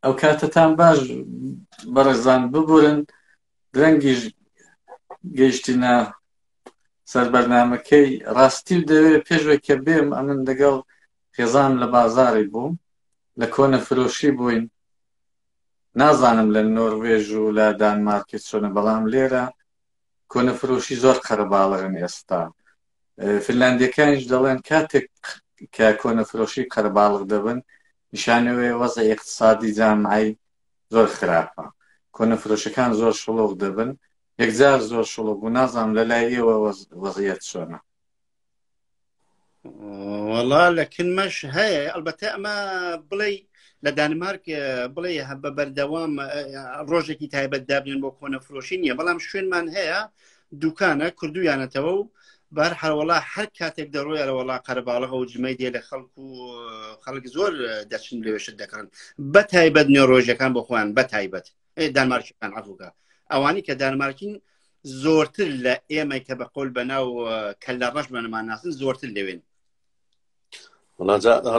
ئەو کاتتان باش بەڕێزان ببورن درەنگیش گەیشتینە سەر بەرنمەکەی ڕاستی و دەوێت پێشوە کە بێم ئەمن دەگەڵ خێزان لە بازاری بووم لە کۆنە فرۆشی بووین نازانم لە نۆروێژ و لە دانمارکی چۆنە بەڵام لێرە کۆنە فرۆشی زۆر قەرەباڵغن ئێستا فنلاندیەکانیش دەڵێن کاتێک کە کۆنە فرۆشی قەرەباڵغ دەبن نیشانەوەی وەزە اقتصادی جامعی زۆر خراپە کۆنە فرۆشەکان زۆر شڵۆق دەبن یەکجار زۆر شڵۆق و نازانم لە لای ئێوە وەزیەت چۆنە وەڵا لە کنمەش هەیە ئەلبەتە ئەمە بڵێ لە دانمارک بڵێ هە بە بەردەوام ڕۆژێکی تایبەت دابنێن بۆ کۆنە فرۆشی نییە بەڵام شوێنمان هەیە دوکانە کردویانەتەوە و بار هەروەڵا هەر کاتێک دەڕۆی ئەرەوەڵا قەرباڵغە و جمەی دێ لە خەڵک و خەڵک زۆر دەچن لەوێشت دەکەن بە تایبەت نێۆڕۆژەکان بۆ خۆیان بە تایبەت دانمارکیەکان عفوکە ئەوانی کە دانمارکین زۆرتر لە ئێمە کە بە قۆل بەناو کە لە ڕەش بەنەمان ناسن زۆرتر لەوێن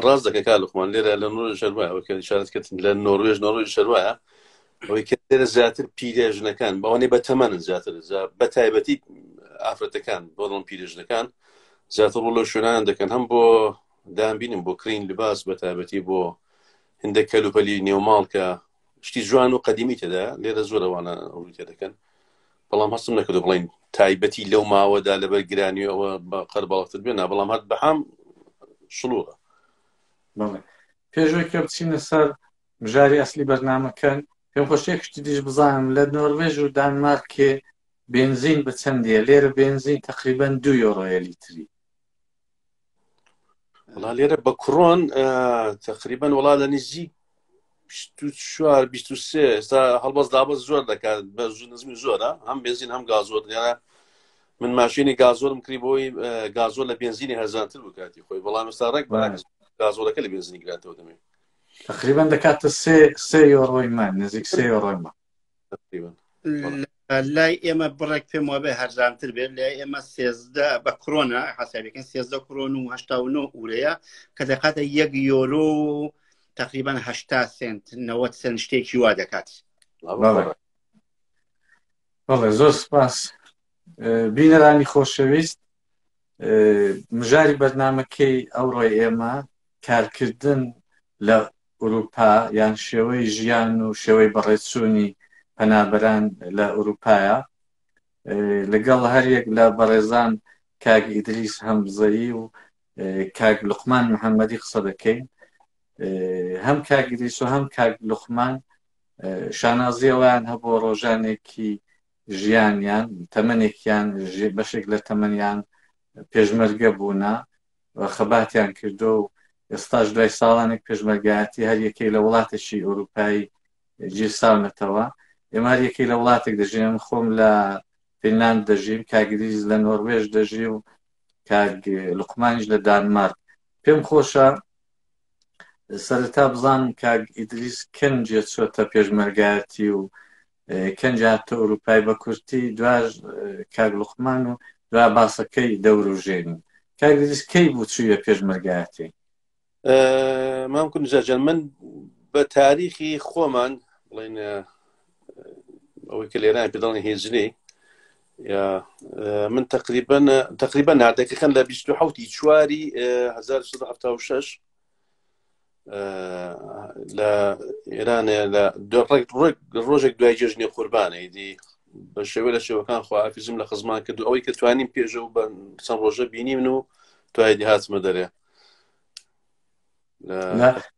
ڕاست دەکە کا لەخمان لێرە لە نور شەروایە ئەوکە شارت کرد لە نۆروێژ نۆڕۆژ شەروایە ئەوەی کە لێرە زیاتر پیرێژنەکان بەوانەی بە تەمەنن زیاتر بە تایبەتی ئافرەتەکان بۆڵم پیرێژنەکان زیاتر ڕوو لە شوێنان دەکەن هەم بۆ دامبینم بۆ کرین لباس بە تایبەتی بۆ هندە کەلوپەلی نێوماڵ کە شتی جوان و قەدیمی تێدا لێرە زۆر ئەوانە ڕووی تێدەکەن بەڵام هەستم نەکردو بڵین تایبەتی لەو ماوەدا لەبەر گرانیەوە بە قەر باڵتر بێنا بەڵام هەت بەهام شلوغە پێشوەی کە بچینە سەر بژاری ئەسلی بەرنمەکەن پێم خۆشێک شتی دیش بزانم لە نۆرمێژ و دانمارکێ بنزین بە چەندە لێرە بنزین تقریبان دو یۆرۆیە لیتری وڵا لێرە بە کوڕۆن تقریبان وڵا لە نزی چوار سێ ئێستا هەڵبەست دابەست زۆر دەکات بە نزمی زۆرە هەم بێزین هەم گازۆر لێرە من ماشینی گازۆرم کری بۆی گازۆر لە بێنزینی هەرزانتر بکاتی خۆی بەڵام ئێستا ڕێک گازۆرەکە لە بێنزینی گراتەوە دەمێ تقریبان دەکاتە سێ سێ یۆڕۆی من نزیک سێ یۆڕۆی من لای ئێمە بڕێک پێم وابێ هەرزانتر بێت لای ئێمە سێزدە بە کرۆنا حسابەکەن سێزدە کرۆن و هشتا و نۆ ئورەیە کە دەکاتە یەک یۆرۆ تقریبان هشتا سنت نەوە سنت شتێکی وا دەکات بەڵێ زۆر سپاس بینەرانی خۆشەویست مژاری بەرنمەکەی ئەوڕۆی ئێمە کارکردن لە ئورووپا یان شێوەی ژیان و شێوەی بەڕێچوونی پەنابەران لە ئورووپایە. لەگەڵ هەریەک لە بەڕێزان کاک ئیدریس هەمزەیی و کاک لوقمان محەممەدی قسە دەکەین. هەم کاک ئیدریس و هەم کاک لوقمان شانازی ئەویان هەبوو ڕۆژانێکی ژیانیان تەمەنێکیان بەشێک لە تەمەنیان پێشمەرگە بوونە خەباتیان کردووە و ئێستاش دوای ساڵانێک پێشمەرگایەتی هەر یەکەی لە وڵاتێکی ئەوروپایی گیرساونەتەوە ئێمە هەر یەکەی لە وڵاتێک دەژین من خۆم لە فینلاند دەژیم کاگریز لە نۆروێژ دەژی و کاگ لقمانیش لە دانمارک پێم خۆشە سەرەتا بزانم کاگ ئیدریس کەنجێ چۆتە پێشمەرگایەتی و کەنج هاتە ئوروپای بە کورتی دواش کاک لوقمان و دوا باسەکەی دەوروژێنین کاک دریس کەی بوو چوویە پێشمەرگایەتی مام کون جەجەن من بە تاریخی خۆمان بڵێن ئەوەی کە لێران پێ دەڵێن هێجلی من تقریبا تقریبا نادەکەکەن لە 1970 چواری 1970 لە ئێرانێ لە ڕێک ڕۆژێک دوای جێژنی قوربانەی دی بە شێوە لە شێوەکان خواکەزم لە خزمان کردو ئەوەی کە توانیم پێژە و بە چەند ڕۆژە بینی من و توای دی هاتمە دەرێ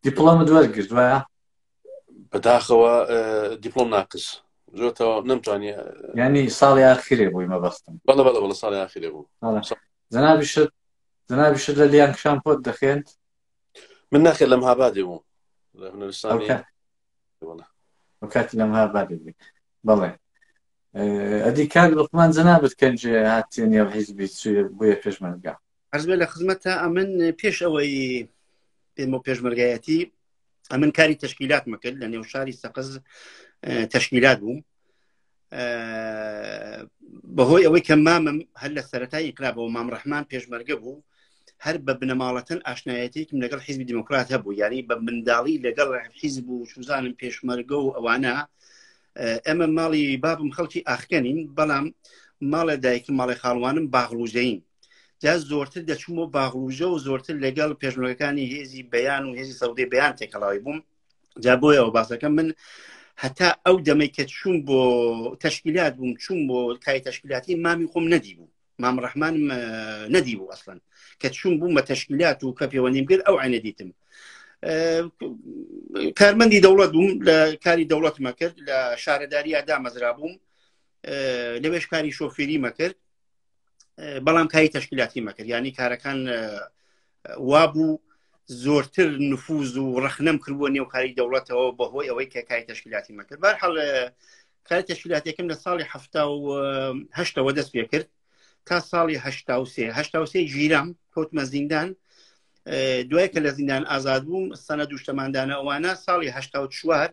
دیپڵۆم دوەرگرت وایە بەداخەوە دیپلۆم ناقس زۆرەوە نەمتوانی ینی ساڵی ئاخرێ بووی مەبەستم بەڵە بەڵە بەڵە ساڵی ئاخرێ بوو زەنابیشت جنابی شت لە لیان کشان پۆت دەخێنت من ناخێت لەم هابادێ بووم لە هونەرستانی ئەو کاتی لەم هابادێ بێ بەڵێ ئەدی کاک لقمان جەنابەت کەنجێ هاتیە نێو حیزبی چێ بۆیە پێشمەرگا ئەزبێ لە خزمەتە ئەمن پێش ئەوەی پێم و پێشمەرگایەتی ئەمن کاری تشکیلات مەکرد لە نێو شاری سەقز تشکیلات بووم بەهۆی ئەوەی کە مامم هەر لە سەرەتای ئیقرابەوە مام ڕحمان پێشمەرگە بوو هەر بە بنەماڵەتەن ئاشنایەتێکم لەگەڵ حیزبی دیموکرات هەبوو یاری بە منداڵی لەگەڵ حیزب و سوزانم پێشمەرگە و ئەوانە ئەمە ماڵی بابم خەڵکی ئاخکەنین بەڵام ماڵە دایکم ماڵی خاڵوانم باغڵوژەین جا زۆرتر دەچوومەوە باغڵوژە و زۆرتر لەگەڵ پێشمەکانی هێزی بەیان و هێزی سەودەی بەیان تێکەڵاوی بووم جا بۆیەوە باسەکە من هەتا ئەو دەمەی کە چوون بۆ تەشکیلات بووم چوون بۆ کای تەشکیلاتی مامی خۆم نەدی بوو مام ڕحمان نەدی بوو ئەسڵەن کە چوون بووم بە تەشکیلات و کە پێوەنیم کرد ئەو عینە دیتم کارمەندی دەوڵەت بووم لە کاری دەوڵەتمە کرد لە شارەداری ئادامەزرا بووم لەوێش کاری شۆفێری مەکرد بەڵام کاری تەشکیلاتی مەکرد ینی کارەکان وابوو زۆرتر نفوز و ڕخنەم کردووە نێو کاری دەوڵەتەوە بەهۆی ئەوەی کە کاری تەشکیلاتی مەکرد بار حڵ کاری تەشکیلاتەکەم لە ساڵی هەفتا و هەشتەوە دەست پێ کرد تا ساڵی هەشتا و سێ هەشتا و سێ ژیرام کەوتمە زیندان دوای کە لە زیندان ئازاد بووم سەنە دوشتەماندانە ئەوانە ساڵی هەشتا و چوار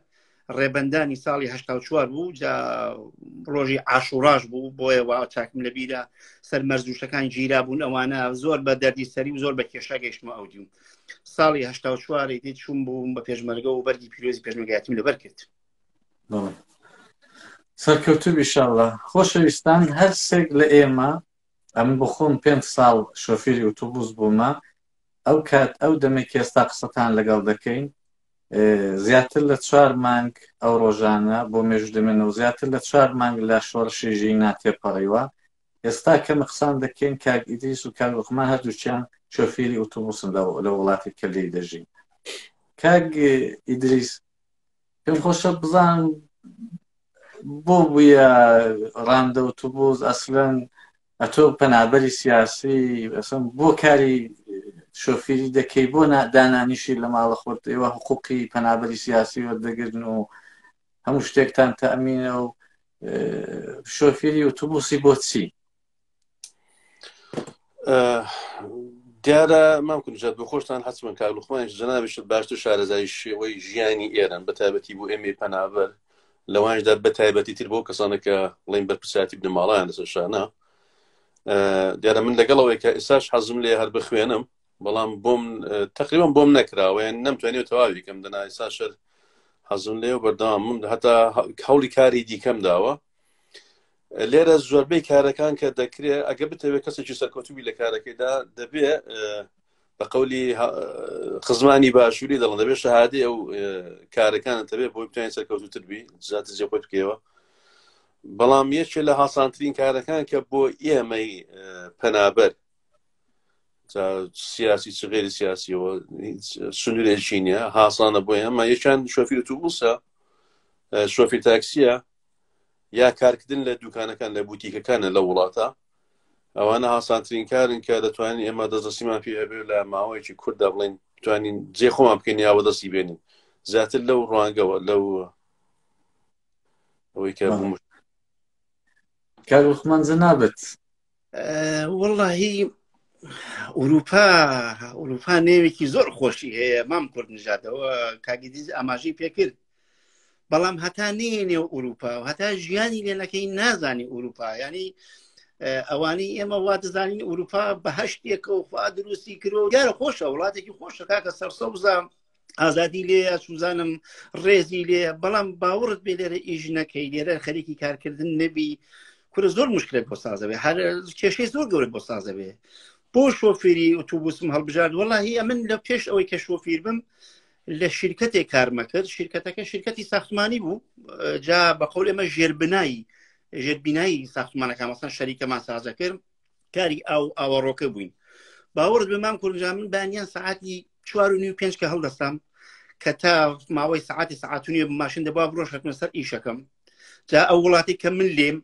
ڕێبەندانی ساڵی هشتا و چوار بوو جا ڕۆژی عاشوڕاش بوو بۆیە وا چاکم لە بیرە سەر مەرزوشەکان گیرا بوون ئەوانە زۆر بە دەردی سەری و زۆر بە کێشا گەیشتمە ئەو دیوم ساڵی هشتا و چواری دی چوون بووم بە پێشمەرگە و بەرگی پیرۆزی پێشمەگاتیم لەبەر کرد سەرکەوتو بیشاڵە خۆشەویستان هەرسێک لە ئێمە ئەم بخۆم پێنج ساڵ شۆفێری ئوتوبوس بوومە ئەو کات ئەو دەمێک ئێستا قسەتان لەگەڵ دەکەین زیاتر لە چوار مانگ ئەو ڕۆژانە بۆ مێژوو دەمێنە و زیاتر لە چوار مانگ لە شۆڕشی ژینا تێپەڕیوە ئێستا کەمە قسان دەکەین کاک ئیدریس و کاک لوقمان هەردووچیان شۆفێری ئۆتۆبوسن لە وڵاتی کە لێی دەژین کاک ئیدریس پێم خۆشە بزان بۆ بووە ڕاندە ئۆتۆبوس ئەسلەن ئەتۆ پەنابەری سیاسی ئەسم بۆ کاری شۆفیری دەکەی بۆ دانانیشی لە ماڵە خۆت ئێوە حقوقی پەنابەری سیاسی وەردەگرن و هەموو شتێکتان تەمینە و شۆفیری و توبوسی بۆچی دیارە مام کوجات بە خۆشتان حچمن کار لوخمانش جنابشت باشتر شارەزایی شێوەی ژیانی ئێرن بە تابەتی بۆ ئێمەی پەنابەر لەوانیشدا بە تایبەتی تر بۆ کەسانە کە بڵین بەرپرسیاتی بنەماڵیان لەسەر شانە دیارە من لەگەڵەوەی کە ئێساش حەزم لێ هەر بخوێنم بەڵام بۆم تقریبم بۆم نەکراوەیان نەمتوانێت تەواوی کەم دەنا ئێسا شەر حەزم لێ و بەردام من هەتا هەوڵی کاری دیکەم داوە لێرە زۆربەی کارەکان کە دەکرێت ئەگە بتەوێت کەسێکی سەرکەوتوبی لە کارەکەیدا دەبێ بە قولی خزمانی باشووری دەڵم دەبێت شەهادی ئەو کارەکانە تەبێ بۆی بتوانین سەرکەوتوتر بی زیاتر جێ خۆی بکەوە بەڵام یەکێ لە هاسانترین کارەکان کە بۆ ئێمەی پەنابەر سیاسی چ غێری سیاسیەوە سنوورێکی نیە هاسانە بۆ ئێمە یەکان شۆفیر و تووبوسە شۆفی تاکسیە یا کارکردن لە دوکانەکان لە بوتیکەکانە لە وڵاتە ئەوانە هاسانترین کارن کە دەتوانین ئێمە دەستدەستیمان پێ هەبێ لە ماوەیەکی کووردا بڵین توانین جێ خۆمان بکەین یا بەدەستی بێنین زیاتر لەو ڕوانگەوە لەو ئەوەی کە بوو کار وەخمان زە نابێت وڵی ئوروپا ئوروپا نێوێکی زۆر خۆشی هەیە مام کورد نژادەوە کاگیدیز ئاماژەی پێکرد بەڵام هەتا نەیە نێو ئوروپا و هەتا ژیانی لێ نەکەی نازانی ئوروپا ینی ئەوانی ئێمە وا دەزانین ئوروپا بە هەشتێکە و خوا دروستی کرۆ دیارە خۆشە وڵاتێکی خۆشە کاکە سەرسەوزە ئازادی لێ سوزانم ڕێزی لێ بەڵام باوەڕت بێ لێرە ئیش نەکەی لێرە خەریکی کارکردن نەبی کورە زۆر مشکلێک بۆ سازەوێ هەر کێشەی زۆر گەورە بۆ سازەوێ بۆ شۆفێری ئۆتوبوسم هەڵبژارد وەڵی ئەمن لە پێش ئەوەی کە شۆفیر بم لە شرکەتێک کارمەکرد شرکەتەکە شرکەتی ساختمانی بوو جا بە قول ئێمە ژێربنایی ژێربینایی ساختمانەکە مەسەن شەریکەمان سازە کرد کاری ئاو ئاوەڕۆکە بووین باوەڕ بمان کورجا من بانیان سعاتی چوار و نیو پێنج کە هەڵدەستام کە تا ماوەی سعاتی سعاتونی ماشین دەبا بڕۆشەکمە سەر ئیشەکەم جا ئەو وڵاتی کە من لێم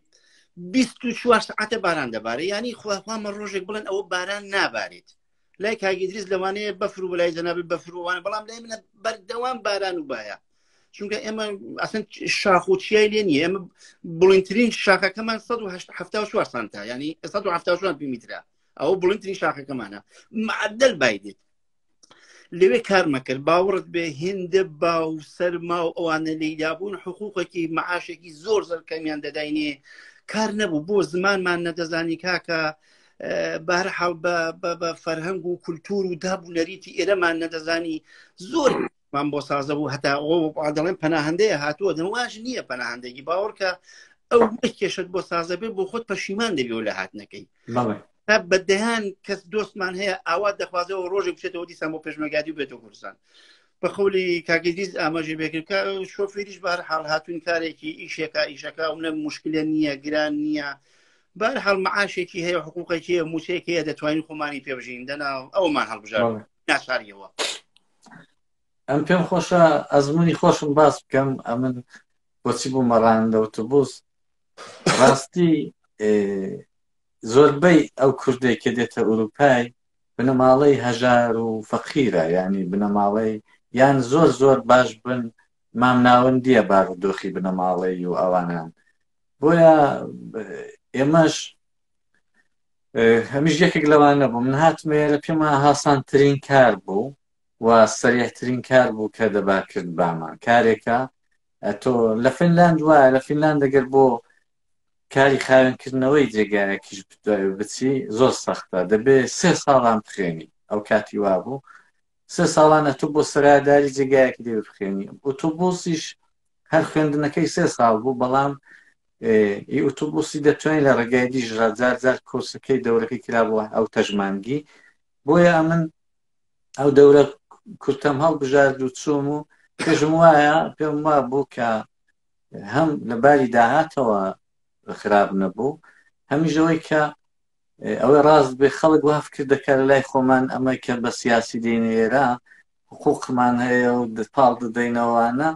بیست و چوار سعاتە باران دەبارە ینی خواخوامە ڕۆژێک بڵێن ئەوە باران نابارێت لای کاگی دریز لەوانەیە بەفر و لای جەنابی بەفروانە بەڵام لای منە بەردەوام باران و باە چونکە ئێمە ئەسن شاخ و چیای لێ نیە ئێمە بڵینترین شاخەکەمان 1970 سانتا ینی 1970 میترا ئەو بڵینترین شاخەکەمانە معدل بایدێت لەوێ کارمەکرد باوەڕت بێ هێندە با و سەرما و ئەوانە لێدابوون حقوقێکی معاشێکی زۆر زەر کەمیان دەداینێ کار نەبوو بۆ زمانمان نەدەزانی کاکە بارحاڵ بە فەرهەنگ و کولتور و داب و نەریتی ئێرەمان نەدەزانی زۆر مان بۆ سازە بوو هەتا ئەوڵێن پەناهندەیە هاتووە دەواش نییە پەناهندێکی باوەڕکە ئەو کێشت بۆ سازە بێ بۆ خۆت پەشیمان دەبی و لە هاتنەکەی تا بە دەیان کەس دۆستمان هەیە ئاوا دەخوازەوە ڕۆژێک بچێتەوە دیسان بۆ پێشمەگادی بێتەوە کوردستان بە خۆلی کاگەریز ئاماژە بێکرد شۆفێریش بار حاڵ هاتوون کارێکی ئیشێکا ئیشەکە ئەو نە مشکلە نییە گران نییە بەر هەڵ معاشێکی هەیە حقوقێکی هەیە موچەیەکی هەیە دەتوانین خۆمانی پێ بژین دەنا ئەومان هەڵبژار بەڵێ. ناشاریەوە ئەم پێم خۆشە ئەزمموی خۆشم باس بکەم ئەمن بۆچی بوو مەڕان لە ئۆتۆبوس ڕاستی ئێ، زۆربەی ئەو کوردێک کە دێتە ئوروپای بنەماڵەی هەژار و فەقیرە یعنی بنەماڵەی یان زۆر زۆر باش بن مام ناوەندیە بارودۆخی بنەماڵەی و ئەوانان بۆیە ئێمەش هەمیش یەکێک لەوان نەبوو من هاتمێرە پێما هاسانترین کار بوو و سەریحترین کار بوو کە دەبا کرد بامان کارێکە تۆ لە فنلاند وایە لە فنلاند دەگەر بۆ کاری خاوێنکردنەوەی جێگایەکیش بچی زۆر سەختە دەبێ سێ ساڵان بخێنی ئەو کاتی وا بوو سێ ساڵانە تو بۆ سەراداری جێگایەکی دێ بخێنی ئۆتۆبۆسیش هەر خوێندنەکەی سێ ساڵ بوو بەڵام ئی ئوتوبوسی دەتوانین لە ڕێگای دیژڕا جار جار کۆسەکەی دەورەکەی کرابووە ئەو تەژمانگی بۆیە ئەمن ئەو دەورە کورتەم هەڵبژارد و چوم و پێشم وایە پێم وا بوو کە هەم لە باری داهاتەوە خراپ نەبوو هەمیشەوەی کە ئەوەی ڕاست بێ خەڵک وا فکر دەکا لە لای خۆمان ئەمە کە بە سیاسی دێینە ئێرە حقوقمان هەیە و پاڵ دەدەینەوانە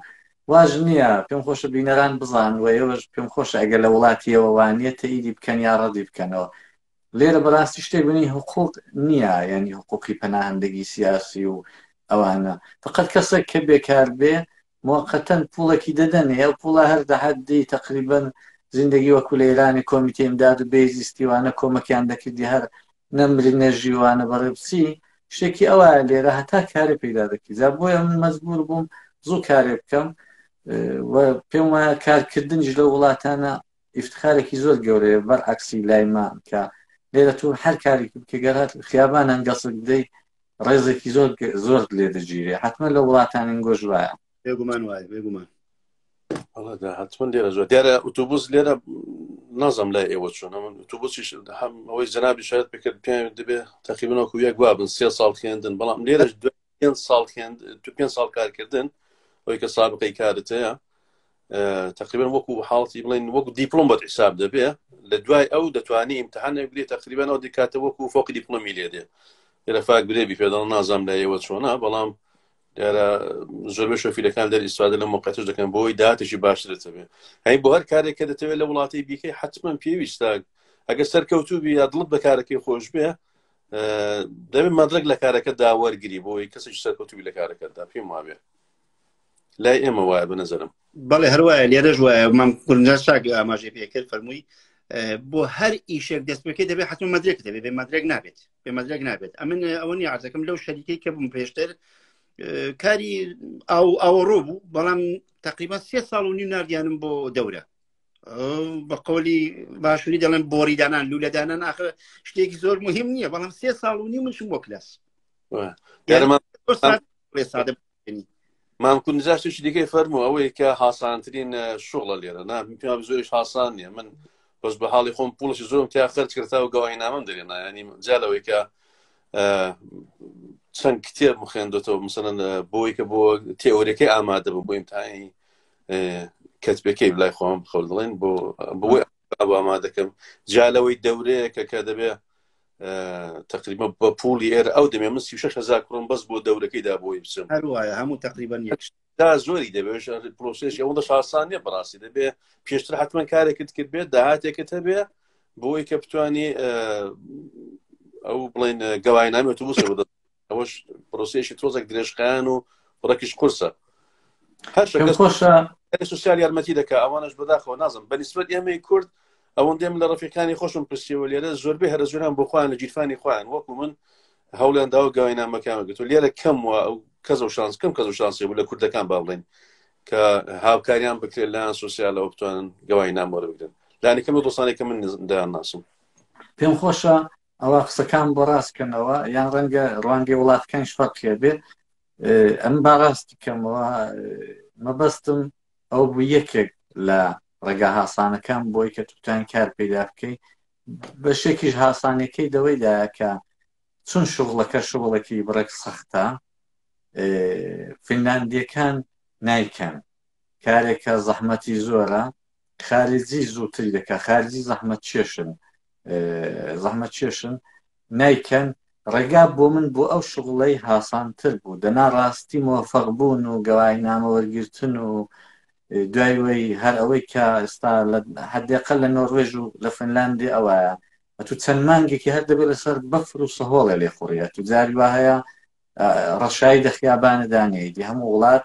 واژ نییە پێم خۆشە بینەران بزان و ئێوەش پێم خۆشە ئەگەر لە وڵاتیەوە وانە تەیدی بکەن یا ڕەدی بکەنەوە لێرە بەڕاستی شتێک بنی حقوق نییە ینی حقوقی پەناهندگی سیاسی و ئەوانە فقط کەسێک کە بێکار بێ موقتەن پوڵێکی دەدەنێ ئەو پوڵە هەر دەهات دێی تەقریبەن زیندەگی وەکو لە ئێرانی کۆمیتەی ئیمداد و بێهزیستی وانە کۆمەکیان دەکردی هەر نەمری نەژی وانە بەڕێ بچی شتێکی ئەوایە لێرە هەتا کارێ پەیدا دەکەی جا بۆیە من مەجبور بووم زوو کارێ بکەم و پێم وایە کارکردنیش لەو وڵاتانە ئیفتخارێکی زۆر گەورەیە بەر عەکسی لای من کە لێرە تۆ هەر کارێکی بکە گەر هەر خیابانان گەسک بدەی ڕێزێکی زۆر زۆر لێ دەگیرێ حتممە لە وڵاتانین گۆش وایە بێگومان وایە بێگومان حتممە لێرە زۆر دیارە ئوتوبوس لێرە نازم لای ئێوە چۆنە من ئوتوبوسیش هەم ئەوەی جنابی شاید بکرد پێ دەبێ تەقیبنەوەکو یەک وابن سێ ساڵ خوێندن بەڵام لێرەش پێنج ساڵ خوێند تو پێنج ساڵ کارکردن ئەوی کە سابقەی کارت هەیە تقریبا وەکو حاڵی بڵین وەکو دیپلۆم بە حساب دەبێ لە دوای ئەو دەتوانانی ئیمتحان نەگرێت تقریبا ئەو دیکاتە وەکو فۆقی دیپلۆمی لێ دێ لەفاک گرێبی پێداڵ نازام لە ئێوە چۆنا بەڵام دیارە زۆربە شۆفیلەکان دەر ئیسفادە لە مقتش دەکەن بۆی داتشی باش دەتەوێت هەی بۆ هەر کارێک کە دەتەوێت لە وڵاتی بیکەی حتمما پێویستە ئەگەر سەرکەوتوبی یا دڵت بەکارەکەی خۆش بێ دەبێت مەدرک لە کارەکە داوەرگری بۆی کەسێک سەرکەوتوی لە کارەکەدا پێم وابێ لای ئێمە وایە بە نەزەرم بەڵێ هەروایە لێرەش وایە مام گورنجا شاک ئاماژەی پێکرد فەرمووی بۆ هەر ئیشێک دەست بکەی دەبێت حتم مەدرێک دەبێت بێ مەدرێک نابێت بێ مەدرێک نابێت ئەمن ئەوەنی عزەکەم لەو شەریکەی کە بووم پێشتر کاری ئەو ئەوڕۆ بوو بەڵام تقریبا سێ ساڵ و نی نردیانم بۆ دەورە بە قۆلی باشووری دەڵێن بۆری دانان لوولە دانان ئاخر شتێکی زۆر مهم نییە بەڵام سێ ساڵ و نی منشم بۆ کلاس مام کون جاشتێکی دیکەی فەرمو ئەوەیە کە هاسانترین شغڵە لێرە نا پێم زۆریش هاسان نیە من بەس بە حاڵی خۆم پوڵشی زۆرم تیا خەرج کرتا و گەواهی نامم دەێ نایانی جالەوەی کە چەند کتێب مخێندێتەوە مثلەن بۆی کە بۆ تێوەرەکەی ئامادە بە بۆ ئیمتانی کەت پێکەی لای خۆم خەڵ دڵێن بۆ بۆی ئەوما دەکەم جالەوەی دەورەیە کە کە دەبێ تقریبا بە پولی ئێر ئەو دەمێ من سی شش هزار کڕم بەس بۆ دەورەکەی دا بۆی بچم هەروایە هەموو تقریبا یەکش دا زۆری دەبێش پرۆسێش ئەوە دە شاسانە بەڕاستی دەبێ پێشتر حتمما کارێکت کرد بێت داهاتێکت هەبێ بۆی کە بتانی ئەو بڵێن گەواینامێت و بسەوە ئەوەش پرۆسیشی تۆزێک درێژخایەن و ڕەکیش قورسە خۆشە سوسیال یارمەتی دەکە ئەوانش بەداخەوە نازم بەنیسبەت ئێمەی کورد ئەوەندێم لە ڕفیقانی خۆشم پرسیەوە لێرە زۆربەی هەرە زۆران بۆ خۆیان لە گیرفانی خۆیان وەکو من هەوڵیان داوە گەوینامەکانمە گرتو لێرە کەم و ئەو کەس و شانس کەم کەس و شانسی بوو لە کوردەکان با بڵێن کە هاوکاریان بکرێت لایەن سوسیالەوە بتوانن گەوای نامۆرە بگرن لانی کەمە دۆستانێکە من دایان ناسم پێم خۆشە ئەوا قسەکان بۆ ڕاست کەنەوە یان ڕەنگە ڕوانگەی وڵاتەکانش فەرق هەبێ ئەم با ڕاست بکەمەوە مەبەستم ئەو بوو یەکێک لە ڕێگا هاسانەکان بۆی کە توتان کار پیدا بکەی بەشێکیش هاسانەکەی دەوەیدا کە چون شغڵەکە شغڵەکی بڕێک سەختە فینلاندیەکان نایکەن کارێکە زەحمەتی زۆرە خارجی زووتری دەکات خارجی زەحمەت چێشن زەحمەت چێشن نایکەن ڕێگا بۆ من بۆ ئەو شغڵەی هاسانتر بوو دەنا ڕاستی مۆفەق بوون و گەوای نامەوەرگتن و دوایوەی هەر ئەوەی کە ئێستا هەردێقە لە نۆڕێژ و لە فنلاندی ئەوەیە ئەتو چەند مانگێکی هەر دەبێت لەسەر بەفر و سەهۆڵێ لێ خوڕیە تو جاری وهەیە ڕەشایی دەخیابانە دانێیدی هەموو وڵات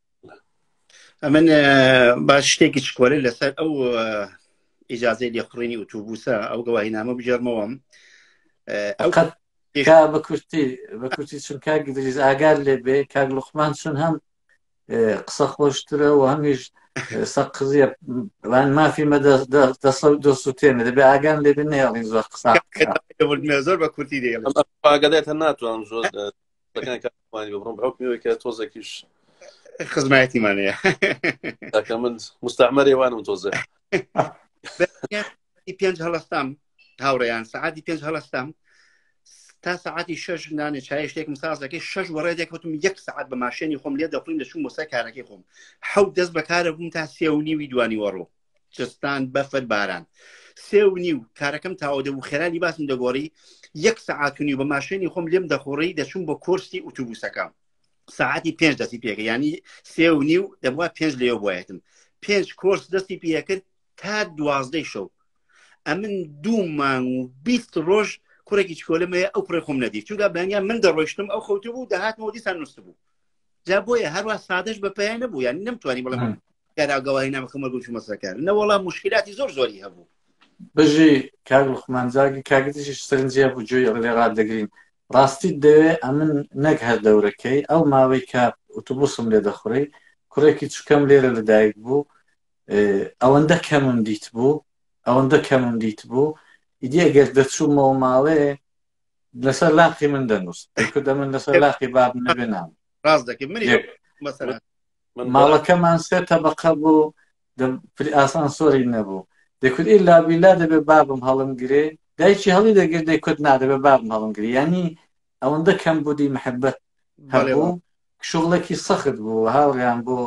ئەمن با شتێکی چکۆلە لەسەر ئەو ئیجازەی لێخڕینی ئوتوبوسە ئەو گەواهی نامە بجێرمەوەم ئەو بە کورتی بە کورتی چون کاک دریز ئاگار لێ بێ کاک لوخمان چون هەم قسە خۆشترە و هەمیش سەقزیە وان مافی مە دەسە و دۆست و تێنە دەبێ ئاگان لێ بێ نێڵین زۆر قسە زۆر بە کورتی دێڵگەدێتە ناتوان زۆر تۆزێکیش خزمایەتیمانەیە تاکە من مستعمەرێ وانم تۆزێ پێنج هەڵستام هاوڕێیان سعاتی پێنج هەڵستام تا سعاتی شش نانێ چای شتێکم سازەکەی شش وەڕێ دێکوتم یەک سعات بە ماشێنی خۆم لێ دەخڵین دەچوم بۆ سەر کارەکەی خۆم حەوت دەست بەکارە بووم تا سێونی ویدوانی وەڕۆ جستان بەفر باران سێ و نیو کارەکەم تاوە دەبوو خێرانی باسم دەگۆڕی یەک سەعاتونی بە ماشێنی خۆم لێم دەخۆڕی دەچوم بۆ کۆرسی ئوتوبوسەکەم ساعتی پێنج دەستی پێکە ینی سێ و نیو دەبووە پێنج لێو بایەتم پێنج کۆرس دەستی پێکرد تا دوازدەی شەو ئەمن دوو مانگ و بیست ڕۆژ کوڕێکی چکۆلمەیە ئەو کوڕێ خۆم نەدی چونگا بەنگیان من دەڕۆشتم ئەو خەوتبوو دەهاتمەوە دیسان نووسبوو جا بۆیە هەروە سادەش بە پێیان نەبوو یان نەمتوانی بڵێ کارا گەواهی نامەکەمە گوش مەسەکار نەوەڵا مشکلاتی زۆر زۆری هەبوو بژی کاک لوخمانجاگی کاگتیشی سەرنجە بوو جوێ لێ ڕات دەگرین ڕاستی دەوێ ئەمن نەک هەر دەورەکەی ئەو ماوەی کە ئوتوبوسم لێ دەخوڕی کوڕێکی چکەم لێرە لەدایک بوو ئەوەندە کەمم دیت بوو ئەوەندە کەمم دیت بوو ئیدی ئەگەر دەچوومەوە ماڵێ لەسەر لاقی من دەنووس کردە من لەسەر لاقی باب نەبێ نام ڕاست دەکەی منی مەسەرە ماڵەکەمان سێ تەبقە بوو پری ئاسان سۆری نەبوو دەکرد ئیلا بیلا دەبێ بابم هەڵم گرێ دایکی هەڵی دەگرت دەیکرد نادەبێ بابم هەڵم گری ینی ئەوەندە کەم بودی محبەت هەبوو شغڵێکی سەخت بوو هاوڕیان بۆ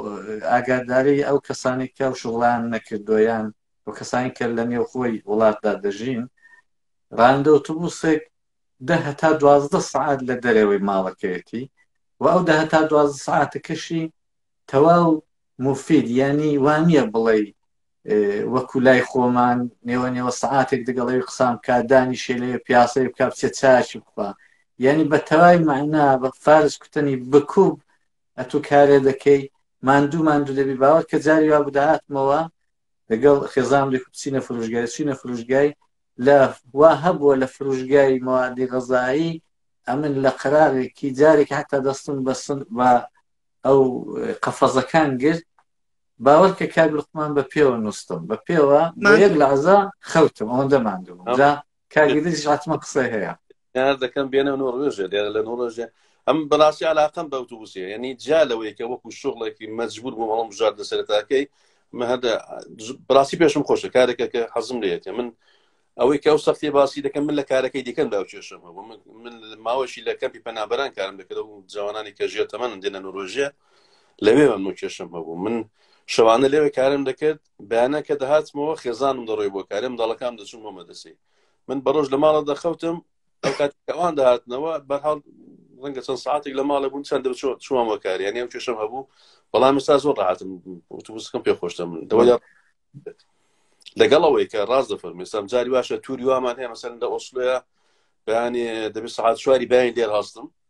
ئاگاداری ئەو کەسانی کە و شغڵان نەکردویان و کەسانی کە لە نێو خۆی وڵاتدا دەژین رانندە ئۆتۆبوسێک دە هەتا دوازدە سەعات لە دەرەوەی ماڵەکەیەتی و ئەو دە هەتا دوازدە سەعاتەکەشی تەواو مفید یعنی وانە بڵێ وەکو لای خۆمان نێوە نێوە سعاتێک دەگەڵەوی قسان بکە دانی شێلێ پیاسەی بکە بچێ چاچی بخوا یعنی بە تەوای معنا بە فارس کوتنی بکوب ئەتو کارێ دەکەی ماندوو ماندوو دەبی باوە کە جاری وا بداهاتمەوە لەگەڵ خێزان لێک بچینە فرۆژگای چینە فرۆژگای لە وا هەبووە لە فروشگای مەوادی غەزایی ئەمن لە قەراغێکی جارێک هەتا دەستم بە بە ئەو قەفەزەکان گرت باوەرکە کاک لقمان بە پێوە نووسم بە پێوە یەک لە عزا خەوتم ئەوەندە ماندوو جا کاگیدیش عاتمە قسەی هەیە پێشنیار دەکەم بێنە نۆڕوێژێ لێرە لە نۆڕێژێ ئەم بەڕاستی علاقم بە ئۆتوبوسێ یعنی جا لەوەیەکە وەکو شغڵێکی مەجبور بووم هەڵم بژار لە سەرتاکەی هەدە بڕاستی پێشم خۆشە کارێکە کە حەزم لەیەکە من ئەوەی کە ئەو سەختی باسی دەکەم من لە کارەکەی دیکەم دا کێشم هەبوو من ماوەشی لە کەمپی پەنابەران کارم دەکرد و جوانانی کە ژێر تەمەن دێنە نۆرۆژیە لەوێ من کێشم هەبوو من شەوانە لەوێ کارم دەکرد بەیانە کە دەهاتمەوە خێزانم دەڕۆی بۆ کارم دەڵەکان دەچون بۆ مەدەسی من بەڕۆژ لە ماڵە دەخەوتم ئەو کات ئەوان داهاتنەوە بەرحاڵ ڕەنگە چەند ساعتێک لە ماڵە بوون چەند دەچۆ چووان وەکار یان ئەم کێشم هەبوو بەڵام مستا زۆر ڕاتم وتوسکم پێ خۆشتە من دەوە لەگەڵ ئەوەی کە ڕاست دەفەرمی سام جاری باشە تووری وامان هەیە مەسەن لە ئۆسلەیە بەیانێ دەبێت سعات چواری باین لێر هەستم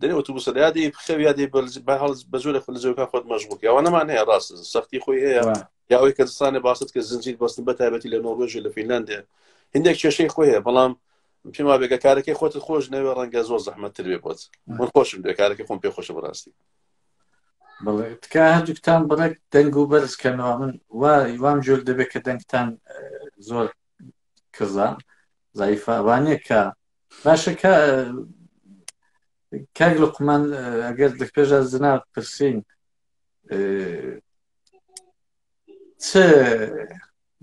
دەێ ئۆتوبوسە یا دەی بخەو یا دەی بە هەڵ بە زۆر لە زۆرکە خۆت مەژبوو یاوانەمان هەیە ڕاست سەختی خۆی هەیە یاوەی کە دستانە باست کە زنجیر بەستن بە تایبەتی لە نۆڕۆژی لە فینلاندێ هندێک کێشەی خۆی هەیە بەڵام پێما بێگە کارەکەی خۆت خۆش نەوێ ڕەنگە زۆر زەحمەتتر بێ بۆت من خۆشم دێ کارەکە خۆم پێ خۆشە بەڕاستی بڵێ تکا هەردووکتان بڕێک دەنگ و بەرز کەنەوە من وا وام جۆر دەبێت کە دەنگتان زۆر کزان زایفە وانە کە باشە کە کاک لقمان ئەگەر دەپێژە زنا پرسین چ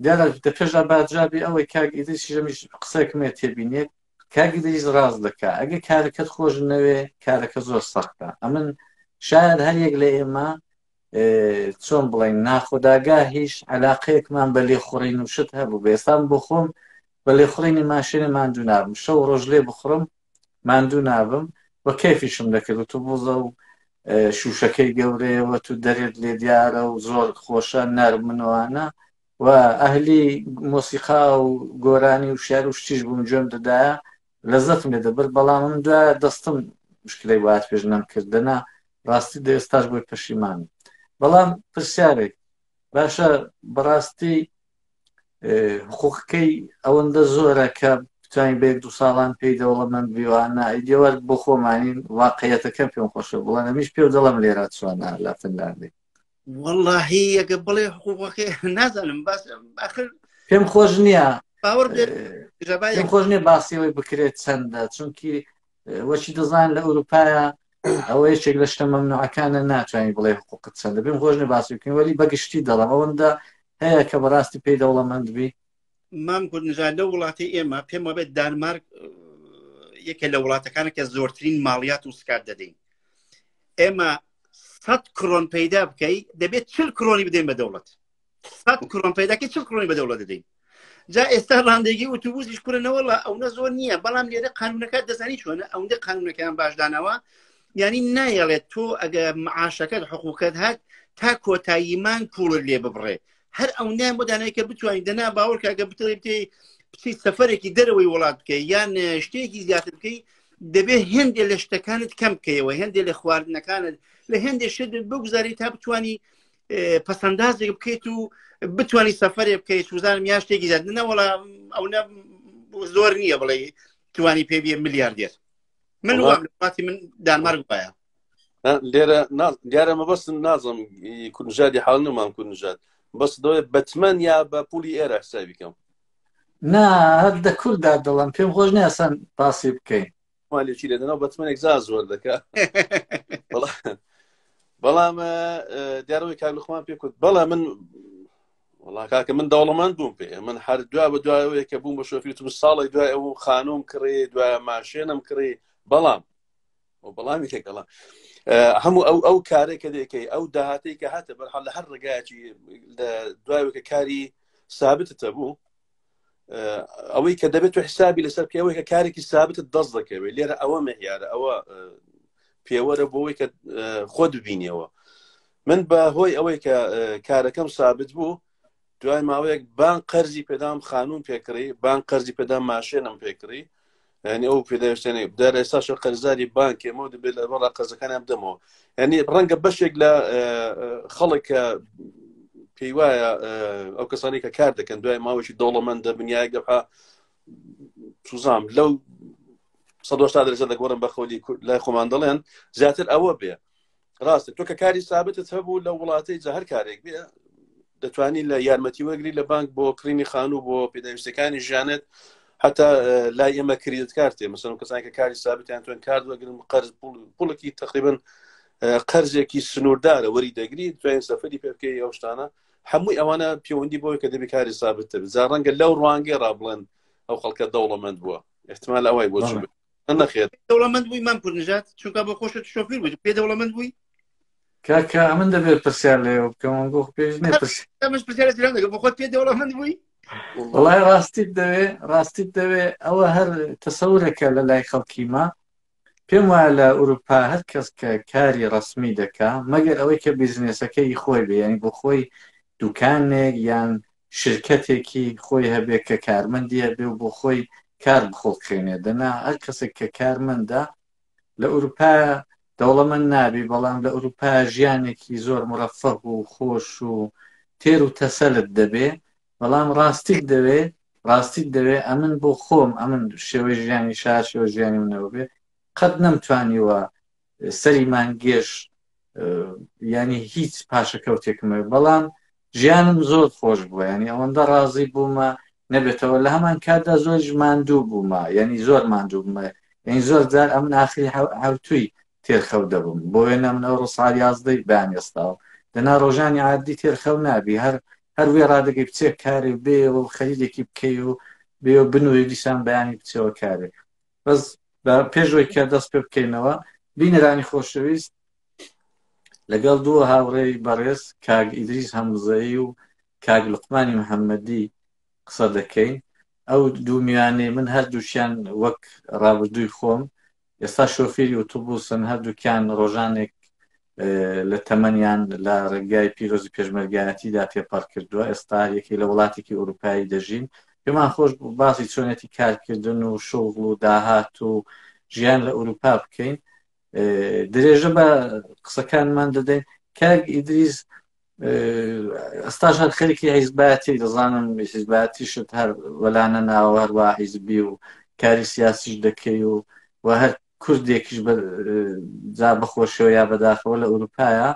دیارە دەپێژا باجابی ئەوەی کاک ئیدریسی ژەمیش قسەکمێ تێبینێت کاک ئیدریس ڕاز دەکا ئەگە کارەکەت خۆش نەوێ کارەکە زۆر سەختە ئەمن شاید هەریەک لە ئێمە چۆن بڵین ناخۆداگا هیچ علاقەیەکمان بە لێخوڕین و شت هەبوو بێسان بخۆم بە لێخوڕینی ماشێنێ ماندوو نابم شەو ڕۆژ لێ بخڕم ماندوو نابم و کەفیشم دەکرد و تو بوزە و شوشەکەی گەورەیەوە تو دەرێت لێ دیارە و زۆر خۆشە نەرمنەوانە و ئەهلی مۆسیقا و گۆرانی و شار و شتیش بووم گوێم دەدایە لەزەتم لێ دەبرد بەڵام من دوایە دەستم مشکلەی وات پێش نەم کردەنا ڕاستی دە ئێستاش بۆی پەشیمانم بەڵام پرسیارێک باشە بەڕاستی حقوقەکەی ئەوەندە زۆرە کە بتوانین بە یەک دو ساڵان پێی دەوڵەمەند بیوانە ئیدێوار بۆ خۆمانین واقعەتەکە پێم خۆشە بڵێن ئەمیش پێ دەڵم لێرا چوانە لە فنلاندی واللهی ئەگە بڵێ حقوقەکەی نازانم باس آخر پێم خۆش نییە باوەڕ پێم خۆش نیە باسیەوەی بکرێت چەندە چونکی وەچی دەزان لە ئەوروپاە ئەوە یەکێک لە شتە مەمنوعەکانە ناتوانانی بڵێ حقوقت چەندە پێم خۆش نە باسی بکەین وەلی بەگشتی دەڵم ئەوەندە هەیە کە بەڕاستی پێی دەوڵەمەند بی مام گونجا لە وڵاتی ئێمە پێم وابێت دانمارک یەکێ لە وڵاتەکانە کە زۆرترین ماڵیات و سکات دەدەین ئێمە سەد کرۆن پەیدا بکەی دەبێت چل کرۆنی بدەین بە دەوڵەت سەد کرۆن پەیداکە چل کرۆنی بە دەوڵەت دەدەین جا ئێستا ڕاندێکی وتوبوزیش کورنەوەڵە ئەوە زۆر نییە بەڵام لێرە قانونەکە دەزانی چۆنە ئەوەندە قانونەکەیان باشدانەوە ینی نایەڵێت تۆ ئەگە معاشەکەت حقووکەت هات تا کۆتاییمان پوڵت لێ ببڕێ هەر ئەو نیان بۆ دانای کە بتوانین دەنا باوەڕ کاگە بتڵێ بتێ بچیت سەفەرێکی دەرەوەی وڵات بکەی یان شتێکی زیاتر بکەی دەبێ هێندێ لە شتەکانت کەم بکەیەوە هێندێ لە خواردنەکانت لە هێندێ شت بگوزاری تا بتانی پسندازێک بکەیت و بتانی سەفرێ بکەیت وزانم یا شتێکی زیاد نەوەڵا ئەو نە زۆر نییە بڵێ توانی پێ بە ملیاردێر من وڵاتی من دانمارک باە لێرە دیارە مەبەستم نازم کوردژادی حاڵ نمان کوردژات بەس دەوێت بەتمەن یا بە پولی ئێرە حسابی کەم نا هەر دە کووردا دڵم پێم خۆش نیاسان پاسی بکەین مالێکی لەدەنەوە بەتمەێک زا زۆر دەکە بەڵام دیارەوەی کارلخمان پێ کوت بەڵە من وڵاکاکە من دەوڵەمەند بووم پێ من هەر دوا بە دوایەوەیە کە بووم بە شۆفیتم ساڵی دوای ئەو خانوم کڕێ دوای ماشێنم کڕێ بەڵام وەڵامی تێکەڵە هەموو ئەو ئەو کارێک کە دەکەی ئەو داهاتی کە هاتە بەرحال لە هەر ڕگایکی دوایکە کاری سابتتە بوو ئەوەی کە دەبێت و حسابی لەسەر پێوەی کە کارێکی سابتت دەست دەکەوێت لێرە ئەوە مەهیارە ئەوە پێوەرە بۆەوەی کە خۆ دبینیەوە من بە هۆی ئەوەی کە کارەکەم سابت بوو دوای ماوەیەک بان قەرزی پێدام خانوم پێکڕی بان قەرزی پێدام ماشێنم پێکڕی ینی ئەو پێداویستێنێ دار ئێستاش قەرزاری بانکێمەوە دەبێت لە بەڵا قەزەکانیان بدەمەوە ینی ڕەنگە بەشێک لە خەڵکە پێی وایە ئەو کەسانی کە کار دەکەن دوای ماوەی دەوڵەمەند دەبنیایە گەپا سوزام لەو 1970 دەگۆڕم بە خۆلی لای خۆمان دەڵێن زیاتر ئەوە بێ ڕاستە تۆ کە کاری سابتت هەبوو لە وڵاتی جە هەر کارێک بێ دەتوانی لە یارمەتی وەگری لە بانک بۆ کڕینی خانوو بۆ پێداویستەکانی ژیانێت حتا لای ئێمە کریت کارتێ مەسن کەسان کە کاری سابتیان توێن کار وەگرن قەرز پوڵکی تقریبن قەرزێکی سنووردارە وەری دەگری توێن سەفری پێ بکەی ئەو شتانە هەمووی ئەوانە پەیوەندی بۆی کە دەبی کاری سابتتر جا ڕەنگە لەو ڕوانگەی ڕابڵێن ئەو خەڵکە دەوڵەمەند بووە احتمال ئەوەی بۆ نەخێت دەوڵەمەند بووی مام کوردنژات چونکە بۆ خۆشە شۆفیر بووی پێ دەوڵەمەند بووی کاکە ئەمن دەبێت پرسیار لێ بکەم گۆ پێش نێ ئەمەش پرسیار درام دەگە بۆ خۆت پێ دەوڵەمەند بووی وڵای ڕاستیت دەوێ ڕاستیت دەوێ ئەوە هەر تەسەورەکە لە لای خەڵکیمە پێم وایە لە ئوروپا هەر کەس کە کاری ڕسمی دەکا مەگەر ئەوەی کە بیزنێسەکەی خۆی بێ ینی بۆ خۆی دوکانێک یان شرکەتێکی خۆی هەبێ کە کارمەندی هەبێ و بۆ خۆی کار بخوڵقێنێ دەنا هەر کەسێک کە کارمەندە لە ئورووپایا دەوڵەمەند نابی بەڵام لە ئورووپایا ژیانێکی زۆر مورەفەه و خۆش و تێر و تەسەلت دەبێ بەڵام ڕاستیت دەوێ ڕاستیت دەوێ ئەمن بۆ خۆم ئەمن شێوەی ژیانی شار شێوەی ژیانی منەوە بێ قەت نەمتوانیوە سەری مانگێش ینی هیچ پاشەکەوتێکمە بەڵام ژیانم زۆر خۆش بووە ینی ئەوەندە ڕازی بوومە نەبێتەوە لە هەمان کاتدا زۆر ماندوو بوومە ینی زۆر ماندوو بمە یعنی زۆر جار ئەم ناخری هەوتوی تێرخەو دەبم بۆ وێنە منەوە ڕسار یازدەی بان ئێستاوە دەنا ڕۆژانی عادی تێرخەو نابی هەر هەر وێ ڕادەگەی بچێک کاری بێ و خەریدێکی بکەی و بێ و بنووری دیسان بەیانی بچەوە کارێک بەس بە پێشەوەی کە دەست پێ بکەینەوە بینەرانی خۆشەویست لەگەڵ دووە هاوڕێی بەڕێز کاگ ئیدریس هەمزەیی و کاگ لقمانی محەممەدی قسە دەکەین ئەو دوومیانەی من هەردووکیان وەک ڕابردووی خۆم ئێستا شۆفیری ئۆتوبوسن هەردووکیان ڕۆژانێک لە تەمەنیان لە ڕێگای پیرۆزی پێشمەرگایەتیدا تێپەڕ کردووە ئێستا یەکی لە وڵاتێکی ئوروپایی دەژین پێمان خۆش باسی چۆنێتی کارکردن و شغڵ و داهات و ژیان لە ئوروپا بکەین درێژە بە قسەکانمان دەدەین کاک ئیدریز ئەستاش هەر خەرکی حیزباتی دەزانم حیزباتیشت هەر وەلانە ناوە هەروە حیزبی و کاری سیاسیش دەکەی و و هەر کوردێکیش بە جا بەخۆشەوە یا بەداخەوە لە ئەوروپایە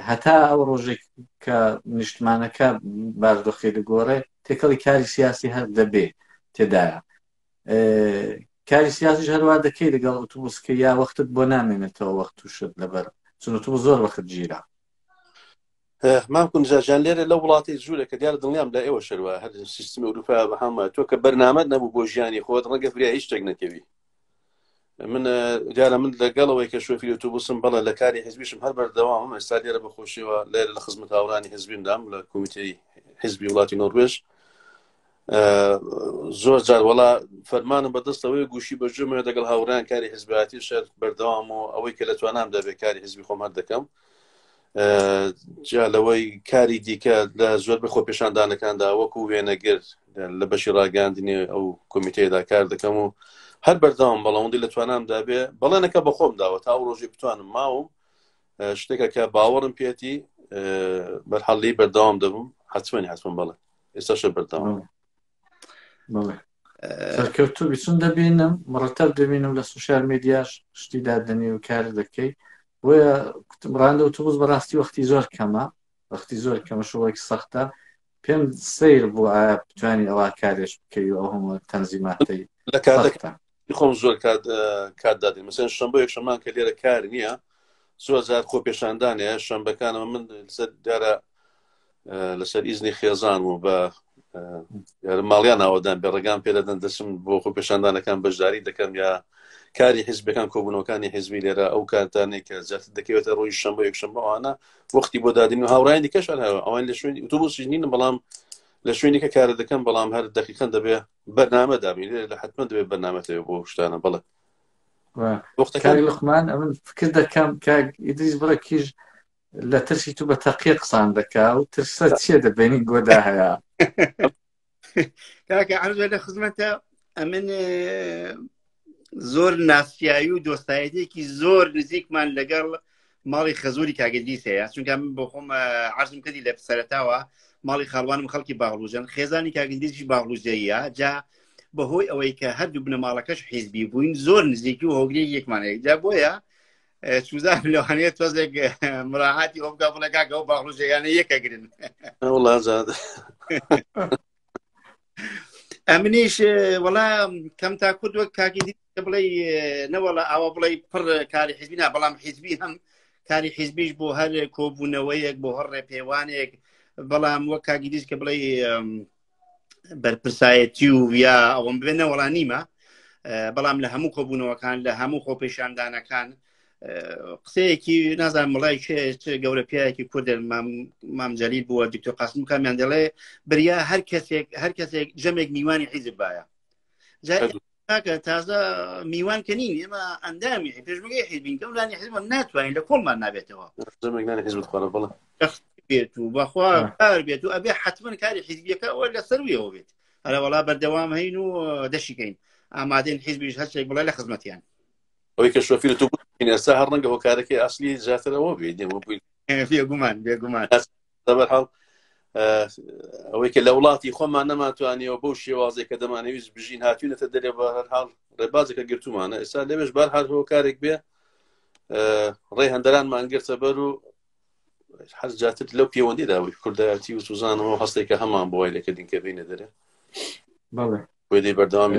هەتا ئەو ڕۆژێک کە نیشتمانەکە باردۆخی دەگۆڕێ تێکەڵی کاری سیاسی هەر دەبێ تێدایە کاری سیاسی هەروە دەکەی لەگەڵ ئۆتوبوسکە یا وەختت بۆ نامێنێتەوە وەخت تووشت لەبەر چونەتو زۆر وەخت گیرە مام کونجاژیان لێرە لە وڵاتی جوورە کە دیارە دڵنیام لە ئێوە شەروە هەر سیستمی ئەوروپا بە هەمە تۆ کە بەرنامەت نەبوو بۆ ژیانی خۆت ڕەنگە فریا هیچ شتێک نەکەوی من دیارە من لەگەڵەوەی کە شوفی ئۆتوبوسم بەڵێ لە کاری حزبیشم هەر بەردەوامم ئێستا لێرە بەخۆشیەوە لێرە لە خزمەت هاورانی حزبیمدام لە کومیتەی حزبی وڵاتی نۆروێژ زۆر جار وڵا فەرمانم بەدەستەوەی گوشی بەجمە دەگەڵ هاوران کاری حزباتی شەر بەردەوام و ئەوەی کە لە توانام دەبێت کاری حزبی خۆمان دەکەم جا لەوەی کاری دیکە لە زۆر بە خۆپێشاندانەکاندا وەکو وێنەگر لە بەشی ڕاگەاندنی ئەو کمیتەیەدا کار دەکەم و هەر بەرداوام بەڵاوەندی لە توانامدا بێ بەڵێنەکە بە خۆم داوە تا ئەو ڕۆژی بتوانم ماوم شتێکە کە باوەڕم پێێتی بەرحەڵی بەرداوام دەبم حتممەنی حتممە بڵێ ئێستاشە بەرداوام سەرکەوتوبی چون دەبینم مڕەتەب دەبینم لە سوشار میدیاش شتی دادەنی و کار دەکەی بۆیە ڕاندە و توبز بەڕاستی وەختی زۆر کەمە وەختی زۆر کەمە شوڵێک سەختە پێم سیر بوو ئایا بتوانانی ئەوە کارێش بکەی و ئەو هەموو تەنزیماتەی لە کار خۆم زۆر کات کات دادی مەسەن شەمبۆ یەکشەمان کە لێرە کار نییە زۆر زار خۆ پێشاندانەیە شەمبەکانەوە من دیارە لەسەر ئیزنی خێزان و بە ماڵیان ئاوادان بێ ڕێگان پێدەدەن دەچم بۆ خۆ پێشاندانەکان بەشداری دەکەم یا کاری حزبەکان کۆبوونەکانی حزبی لێرە ئەو کاتانێک کە زیات دەکەوێتە ڕۆژ شەمە یەکشەمەوانە وەختی بۆ دادن و هاوڕانی دیکەش هەرەوە ئەوان لە شوێنی ئوتوبوسی نین بەڵام لە شوێنی کە کارە دەکەم بەڵام هەر دەقیقەن دەبێ بەرنامە دابین لە حتممە دەبێت بەرنامە لێ بۆ شتانە بڵێ وەختەکانی لقمان ئەمن فکر دەکەم کاک ئیدریس بڕە کیژ لە ترسی تو بە تەقیە قسان دەکا و ترسە چیە دەبێنی گۆدا هەیە کاکە عرض لە خزمەتە ئەمن زۆر ناسیایی و دۆستایەتێکی زۆر نزیکمان لەگەڵ ماڵی خەزوری کاگەدیس هەیە چونکە من بۆ خۆم عزم کردی لە سەرتاوە ماڵی خاڵوانم خەڵکی باڵوژەن خێزانی کاگەدیسی باڵوژەیە جا بەهۆی ئەوەی کە هەردوو بنەماڵەکەش حیزبی بووین زۆر نزیکی و هۆگری یەکمانەیەکدا بۆیە چوزان لەوانەیە تۆزێک مراعاتی ئەو بکە بڵێ کاکە ئەو باڕوژەیانە یەکە گرن وڵازاد ئەمنیش وەڵا کەم تا کورد وەک کاکی دی بڵێ نەوەڵە ئەوە بڵێ پڕ کاری حیزبی نا بەڵام حیزبی هەم کاری حیزبیش بۆ هەر کۆبوونەوەیەک بۆ هەر ڕێپێوانێک بەڵام وەک کاگیریش کە بڵێ بەرپرسایەتی و یا ئەوم بێ نەوەڵا نیمە بەڵام لە هەموو کۆبوونەوەکان لە هەموو خۆپێشاندانەکان قسەیەکی نازان مڵای گەورە پیاەکی کورد مامجلیل بووە دکتۆر قاسم کامیان دەڵێ بریا هەر کەسێک هەر کەسێک جەمێک میوانی حیزب باە تاکە تازە میوان کە نین ئێمە ئەندامی پێشمەگەی حیزبین کەم لانی حزبم ناتوانین لە کۆڵمان نابێتەوە بێت و بەخوا کار بێت و ئەبێ حتمما کاری حیزبیەکە ئەوە لە سەرویەوە بێت هەرە وڵا بەردەوام هەین و دەشیکەین ئامادەین حیزبیش هەستێک بڵێ لە خزمەتیان ئەوەی کە شۆفیر تو ئێستا هەر ڕەنگە هۆکارەکەی ئەاصلی زیاترەوە بێت نێوە بووین بێگومان بێگومان دەبەرحاڵ ئەوەی کە لە وڵاتی خۆمان نەماتوانیەوە بەو شێوازێک کە دەمانەویست بژین هاتوونەتە دەرێ بە هەرحاڵ ڕێبازەکە گرتومانە ئێستا لەوێش بار هەر هۆکارێک بێ ڕێ هەندەران مانگرتە بەر و هەر جاتر لەو پەیوەندی داوی کوردایەتی و سوزانەوە هەستێکە هەمان بۆی لەکە دینکە بینە دەرێ بەڵێ بەردەوامی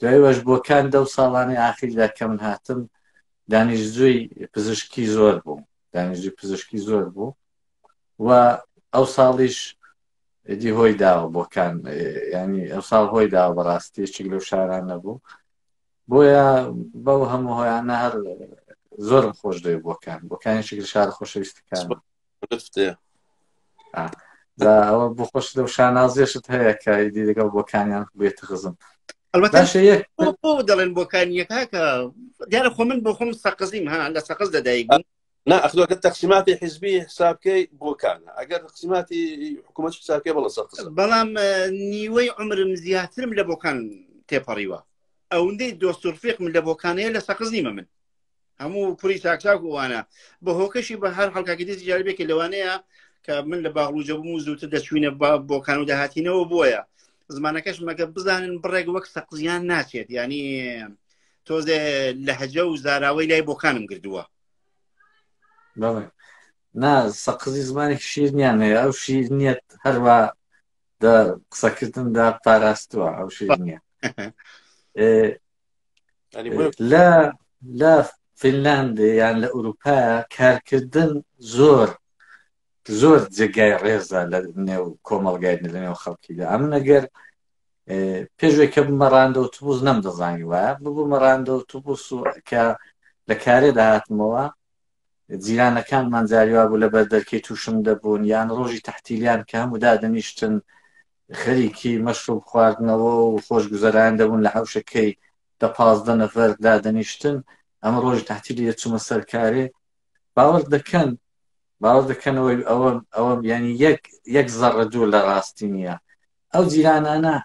دوای وەش بۆکان دەو ساڵانەی ئاخیردا کە من هاتم دانیشتجوی پزیشکی زۆر بوو دانیشتجوی پزیشکی زۆر بوو و ئەو ساڵیش دی هۆی داوە بۆکان ینی ئەو ساڵ هۆی داوە بەڕاستی چیک لەو شاران نەبوو بۆیە بەو هەموو هۆیانە هەر زۆرم خۆش دەوێ بۆکان بۆکانی شکل شار خۆشەویستەکان جا ئەوە بۆ خۆش لەو شانازێشت هەیە کە ئیدی لەگەڵ بۆکانیان بێت خزم دەڵێن بۆکانیەکە کە دیارە خۆ من بۆ خۆم سەقزیم ها لە سەقز دەدایک بووم نا ئەخلوەکە تەقسیماتی حزبی حسابکەی بۆکانە ئەگەر قسیماتی حکوومەت حسابکە بڵە سەقز بەڵام نیوەی عمرم زیاترم لە بۆکان تێپەڕیوە ئەوندەی دۆستورفێقم لە بۆکانەیە لە سەقز نیمە من هەموو پوری چاکچاک وانە بە هۆکەشی بە هەر حڵکاکی دەستی جاربێکی لەوانەیە کە من لە باغلوجە بووم و زووتر دەچوینە بۆ کان و داهاتینەوە بووە زمانەکەش مەگە بزانن بڕێک وەک سەقزیان ناچێت ینی تۆزێ لە هەجە و زاراوەی لای بۆکانم گردووە نا سەقزی زمانی شیرنیان هەیە ئەو شیر نیەت هەروە قسەکردندا پاراستووە ئەو شیر نیە لە لە فینلاند یان لە ئوروپا کارکردن زۆر زۆر جێگای ڕێزە لە نێو کۆمەڵگای لە نێو خەڵکیدا ئەم نەگەر پێشێک کە بمەڕاندە و تووز نەم دەزانی وایە ببوو مەڕاندە و تووس و کە لە کارێدا هاتمەوە جیرانەکانمان جاریوابوو لە بەردەرکەی تووشم دەبوون یان ڕۆژی تەحتیلیان کە هەموو دادەنیشتن خەریکی مەشروب خواردنەوە و خۆش گوزەرایان دەبوون لە حەوشەکەی دە پازدە نەفەر دادەنیشتن ئەمە ڕۆژی تەحتیلی دەچوومە سەر کارێ باوەڕ دەکەن باوەڕ دەکەنەوەی ئەوە ئەوە یانی یەک یەک زەڕە دوور لە ڕاستی نییە ئەو جیرانانە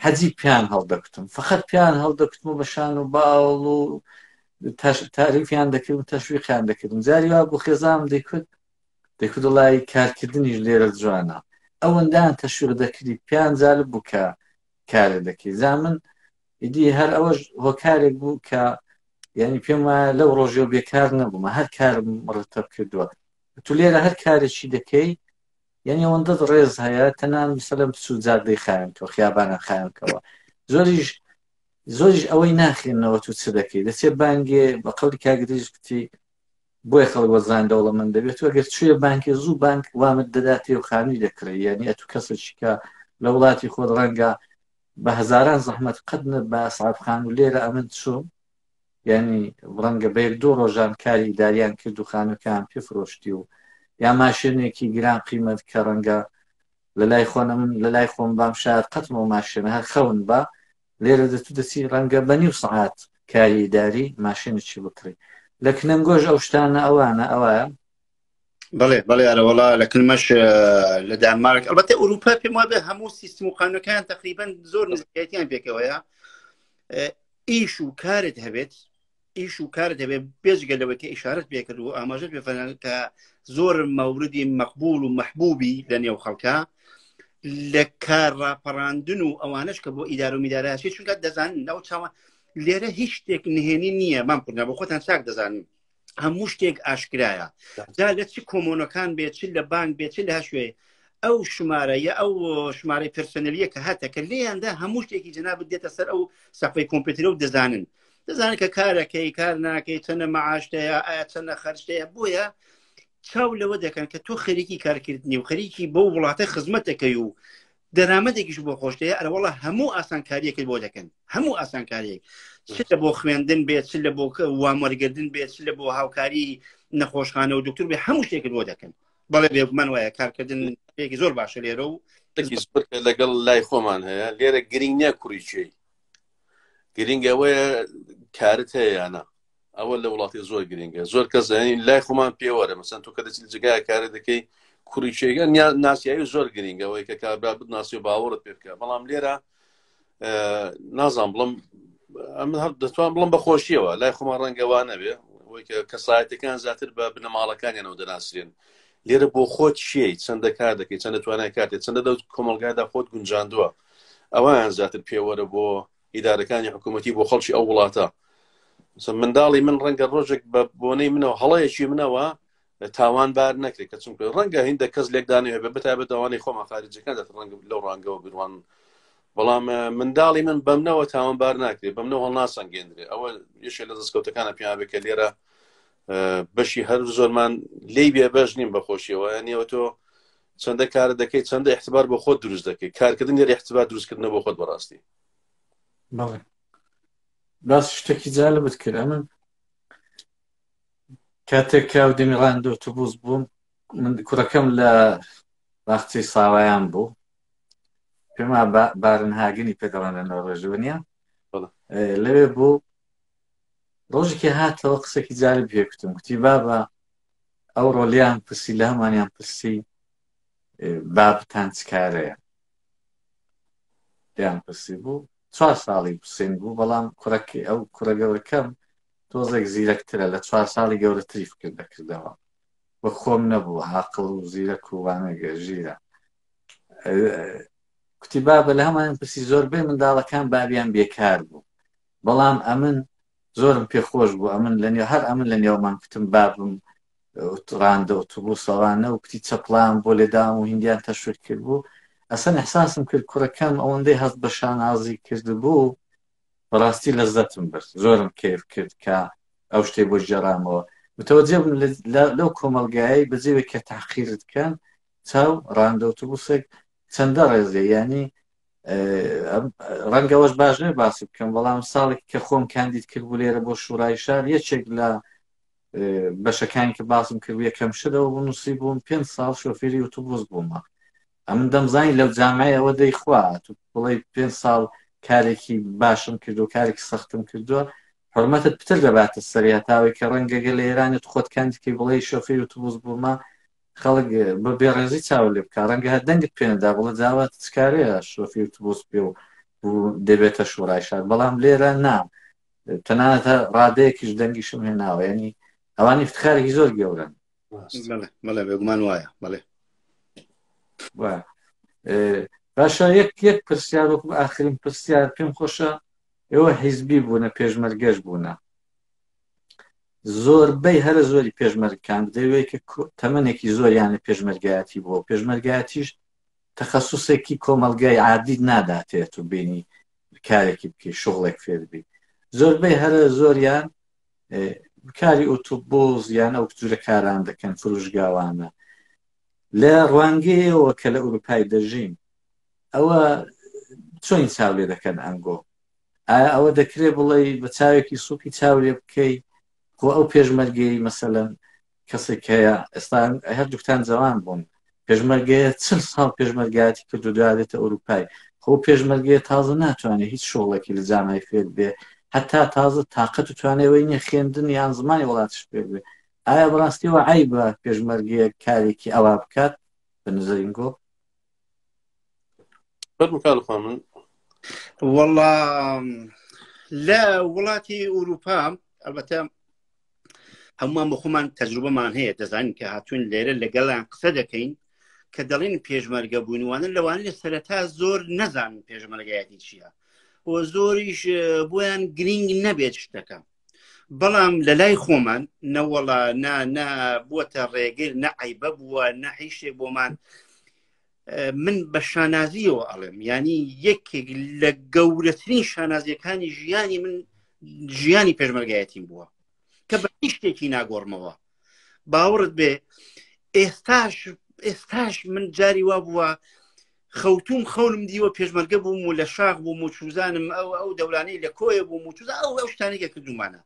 حەجی پیان هەڵدەکوتم فقط پیان هەڵدەکوتم و بە شان و باوەڵ و تاریفیان دەکرد و تەشویقیان دەکردم جاری وا بۆ خێزام دەیکوت دەکوت وڵی کارکردنیش لێرە جوانە ئەوەندان تەشویق دەکردی پیان جالب بوو کە کارێ دەکەی زامن ئیدی هەر ئەوەش هۆکارێک بوو کە یعنی پێم وایە لەو ڕۆژێ و بێکار نەبوومە هەر کارم ڕتەب کردووە تو لێرە هەر کارێکی دەکەی یانی ئەوەندەت ڕێز هەیە تەنان مسەلم بچوو جادەی خایەنکەوە خیابانە خایەنکەوە زۆریش زۆریش ئەوەی ناخێنەوە تو چ دەکەی دەچێت بانگێ بە قەڵی کاگریش بتی بۆیە خەڵک وەزان دەوڵەمەند دەبێت و ئەگەر چێ بانکێ زوو بانک وامت دەداتێ و خانووی دەکڕێ یعنی ئەتو کەسێکیکە لە وڵاتی خۆت ڕەنگە بە هەزاران زەحمەت قەت نە بە سعفخان و لێرە ئەمن چوم یانی ڕەنگە بە یەک دوو ڕۆژان کاری ئیداریان کرد و خانووەکان پێ فرۆشتی و یا ماشێنێکی گران قیمەت کە ڕەنگە لە لای خۆنە من لە لای خۆم بام شار قەتمەوە ماشێنە هەر خەون بە لێرە دەتو دەچی ڕەنگە بە نیو سعات کاری ئیداری ماشێنێکی بکڕی لە کنەنگۆش ئەو شتانە ئەوانە ئەوە بەڵێ بەڵێ ئەرەوەڵا لە کلمەش لە دانمارک ئەڵبەتە ئەوروپا پێم وابێ هەموو سیستم و قانونەکان تقریبان زۆر نزیکەتیان پێکەوەیە ئیش و کارت هەبێت ئیش و کار دەبێت بێجگە لەوەی کە ئشارت پێکرد و ئاماژە پێفەنان کە زۆر مەوردی مەقبول و محبوبی لە نێو خەڵکە لە کار ڕاپەڕاندن و ئەوانش کە بۆ ئیدار و میداراشی چونکە دەزانن ناو چاوان لێرە هیچ شتێک نهێنی نییە مام کوردنا بۆ خۆتان چاک دەزانن هەموو شتێک ئاشکرایە جا لە چ کۆمۆنەکان بێت چ لە بانک بێت چ لە هەشوێ ئەو شمارە یا ئەو شمارەی پرسنلیە کە هاتە کە لێیاندا هەموو شتێکی جناب دێتە سەر ئەو سەفەی کۆمپیوترە و دەزانن دەزانن کە کارەکەی کار ناکەی چەنە مەعاشتەیە ئایا چەنە خەرشتەیە بۆیە چاو لەوە دەکەن کە تۆ خەریکی کارکردنی و خەریکی بۆ وڵاتە خزمەتەکەی و دەرامەتێکیش بۆ خۆشتەیە ئەرەوەڵە هەموو ئاسانکاریەکەی بۆ دەکەن هەموو ئاسانکاریەک چ لە بۆ خوێندن بێت چ لە بۆ وامەرگردن بێت چ لە بۆ هاوکاری نەخۆشخانە و دکتور بێ هەموو شتێکت بۆ دەکەن بەڵێ بێگومان وایە کارکردن شتێکی زۆر باشە لێرە و لەگەڵ لای خۆمان هەیە لێرە گرنگ نیە کوڕی چێی گرنگەوەیە کارت هەیەیانە ئەوە لە وڵاتی زۆر گرنگە زۆر کەس لای خۆمان پێوەرە مەسەن تۆ کە دەچیت جگای کارە دەکەی کوڕیچێگە ناسیایی زۆر گرنگەوەی کە کابرا بناسی و باوەڕت پێ بکە بەڵام لێرە نازان بڵم ئەمن هەر دەتوان بڵم بەخۆشیەوە لای خۆمان ڕەنگەوان نەبێ کەسایەتەکان زیاتر بە بنەماڵەکانیانەوە دەناسرێن لێرە بۆ خۆت چیە چەندە کار دەکەی چەندە توانای کاتێ چەندە دەوت کۆمەلگادا خۆت گونجاندووە ئەویان زیاتر پێوەرە بۆ ئیدارەکانی حکوومەتی بۆ خەڵکی ئەو وڵاتە منداڵی من ڕەنگە ڕۆژێک بە بۆنەی منەوە هەڵەیەکی منەوە تاوان بار نەکرێت کە چونکە ڕەنگە هیندە کەس لێکدانێ بە بتابێت داوانەی خۆمان خارجەکان دەت ڕەنگە لەو ڕانگەوە بروان بەڵام منداڵی من بەمنەوە تاوان بار ناکرێت بەمنەوە هەڵناسەنگێندرێت ئەوە یشێ لە دەستکەوتەکانە پیاێک کە لێرە بەشی هەر زۆرمان لی بێ بەش نیم بەخۆشیەوە نیەوە تۆ چەندە کار دەکەیت چەندە احتبار بۆ خۆت دروست دەکەیت کارکردن لێ احتبار دروستکردنە بۆ خۆت بەڕاستی بەڵێ باس شتێکی جالبت کرد ئەمە کاتێک کاو دەمی ڕاندۆ توبووز بووم من کوڕەکەم لە باخچەی ساوایان بوو پێما بارن هاگنی پێدەڵانە نۆڕێژونیە لەوێ بوو ڕۆژێکی هاتەوە قسەکی جاری پێکوتم کوتی بابە ئەو ڕۆلیان پرسی لامانیان پرسی بابتان چکارەیە پێیان پرسی بوو چوار ساڵی حوسین بوو بەڵام کوڕەکەی ئەو کوڕە گەورەکەم تۆزێک زیرەکترە لە چوار ساڵی گەورەتری فکر دەکردەوە وە خۆم نەبوو عاقڵ و زیرەک و وانەگە ژیرە کوتی بابە لە هەمان پرسی زۆربەی منداڵەکان باویان بێکار بوو بەڵام ئەمن زۆرم پێ خۆش بوو ئەمن لە نێو هەر ئەمن لە نێومان کوتم بابم ڕاندە ئۆتوبوسەوانە و کوتی چەپڵام بۆ لێدام و هندیان تەشوت کرد بوو ئەسەن احساسم کرد کوڕەکەم ئەوەندەی هەست بە شانازی کرد بوو بەڕاستی لەزەتم برد زۆرم کەف کرد کە ئەو شتێ بۆ جێرامەوە متەوەجێ بن لەو کۆمەلگایە بەجێوێک کە تاقیرت کەن چاو ڕاندە ئۆتوبوسێک چەندە ڕێزێ یعنی ڕەنگە وەش باش نێ باسی بکەم بەڵام ساڵێک کە خۆم کاندید کرد بوو لێرە بۆ شوڕای شار یەکێک لە بەشەکانی کە باسم کرد یەکەم شتەوە بوو نووسی بووم پێ ساڵ شۆفێری وتوبوز بوومە ئەمن دەمزانی لەو جامعی ئەوە دەیخوا تو بڵی پێ ساڵ کارێکی باشم کردو کارێکی سەختم کردووە حرمەتت پتر دەباتە سەریا تاوەی کە ڕەنگەگە لە ئێرانت خۆت کاندیکەی بڵێ شۆفێری وتوبوز بوومە خەڵک بە بێڕێزی چاوە لێ بکە ڕەنگە هەر دەنگت پێنەدا بڵە جاوە چکارەیە شۆفی توبوس پێ و دەبێتە شوڕای شار بەڵام لێرە نا تەنانەتە ڕادەیەکیش دەنگیشم هێناوە ینی ئەوان افتخارێکی زۆر گەورن بەڵێ بێگومان وایە بەڵێ باشە یەک یەک پرسیار وەکم ئاخرین پرسیار پێم خۆشە ئێوە حیزبی بوونە پێشمەرگەش بوونە زۆربەی هەرە زۆری پێشمەرگکان دەوێت کە تەمەێکی زۆریان لە پێشمەرگایەتی بووە پێشمەرگایەتیش تەخصصێکی کۆمەلگای عادید ناداتێت و بینی کارێکی بکە شغڵێک فێربی زۆربەی هەرە زۆریان کاری ئۆتوبۆز یان ئەو جورە کاران دەکەن فروشگاوانە لە ڕوانگەیەوە کە لە ئوروپای دەژین ئەوە چۆین چاولێ دەکەن ئەنگۆ ئایا ئەوە دەکرێ بڵێی بە چاوێکی سووکی چاو لێ بکەی خۆ ئەو پێشمەرگەی مەسەلەن کەسێک هەیە ئێستا هەر دوکتان جوان بوون پێشمەرگەیە چل ساڵ پێشمەرگایەتی کردو دوادێتە ئەوروپای خۆ پێشمەرگەیە تازە ناتوانێت هیچ شغڵێکی لە جامای فێر بێ هەتا تازە تااقەت و توانێەوەی نیە خوێندن یان زمانی وڵاتش فێر بێ ئایا بڕاستیەوە ئای بە پێشمەرگەیە کارێکی ئەوا بکات بە نزەرینگۆ وڵا لە وڵاتی ئوروپا ئەلبەتە هەمووان بە خۆمان تەجروبەمان هەیە دەزانین کە هاتوون لێرە لەگەڵیان قسە دەکەین کە دەڵێن پێشمەرگە بوونوانە لەوان لە سەرەتا زۆر نەزان پێشمەرگایەتی چییە و زۆریش بۆیان گرنگ نەبێت شتەکە بەڵام لە لای خۆمان نەوەڵا نا نا بووەتە ڕێگر نە عیبە بووە نە هیشێ بۆمان من بە شانازیەوە ئەڵێم ینی یەکێک لە گەورەترین شانازیەکانی ژیانی من ژیانی پێشمەرگایەتیم بووە کە بە هیشتێکی ناگۆڕمەوە باوەڕت بێ ئێستاش ئێستاش من جاری وا بووە خەوتوم خەونم دیوە پێشمەرگە بووم و لە شاخ بووم و چوزانم ئەو ئەو دەورانەی لە کۆیە بووم و چوزا ئەو ئەو شتانێکە کردومانە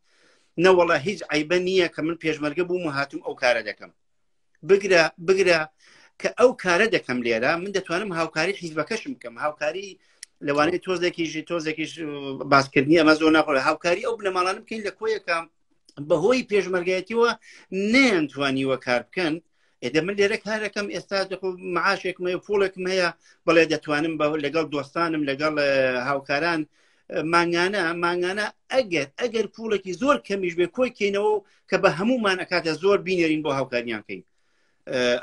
نەوەڵە هیچ عیبە نییە کە من پێشمەرگە بووم و هاتم ئەو کارە دەکەم بگرە بگرە کە ئەو کارە دەکەم لێرە من دەتوانم هاوکاری حیزبەکەشم بکەم هاوکاری لەوانەیە تۆزێکیژی تۆزێکیش باسکردنی ئەمە زۆر ناخۆ هاوکاری ئەو بنەماڵانم بکەین لە کۆیەکەم بەهۆی پێشمەرگایەتیەوە نەیانتوانیوە کار بکەن ئێدە من لێرە کارەکەم ئێستا معاشێکم هەیە پوڵێکم هەیە بەڵێ دەتوانم بە لەگەڵ دۆستانم لەگەڵ هاوکاران مانگانە مانگانە ئەگەر ئەگەر پوڵێکی زۆر کەمیش بێ کۆی کەینەوە کە بە هەمومان ئەکاتە زۆر بینێرین بۆ هاوکاریان کەین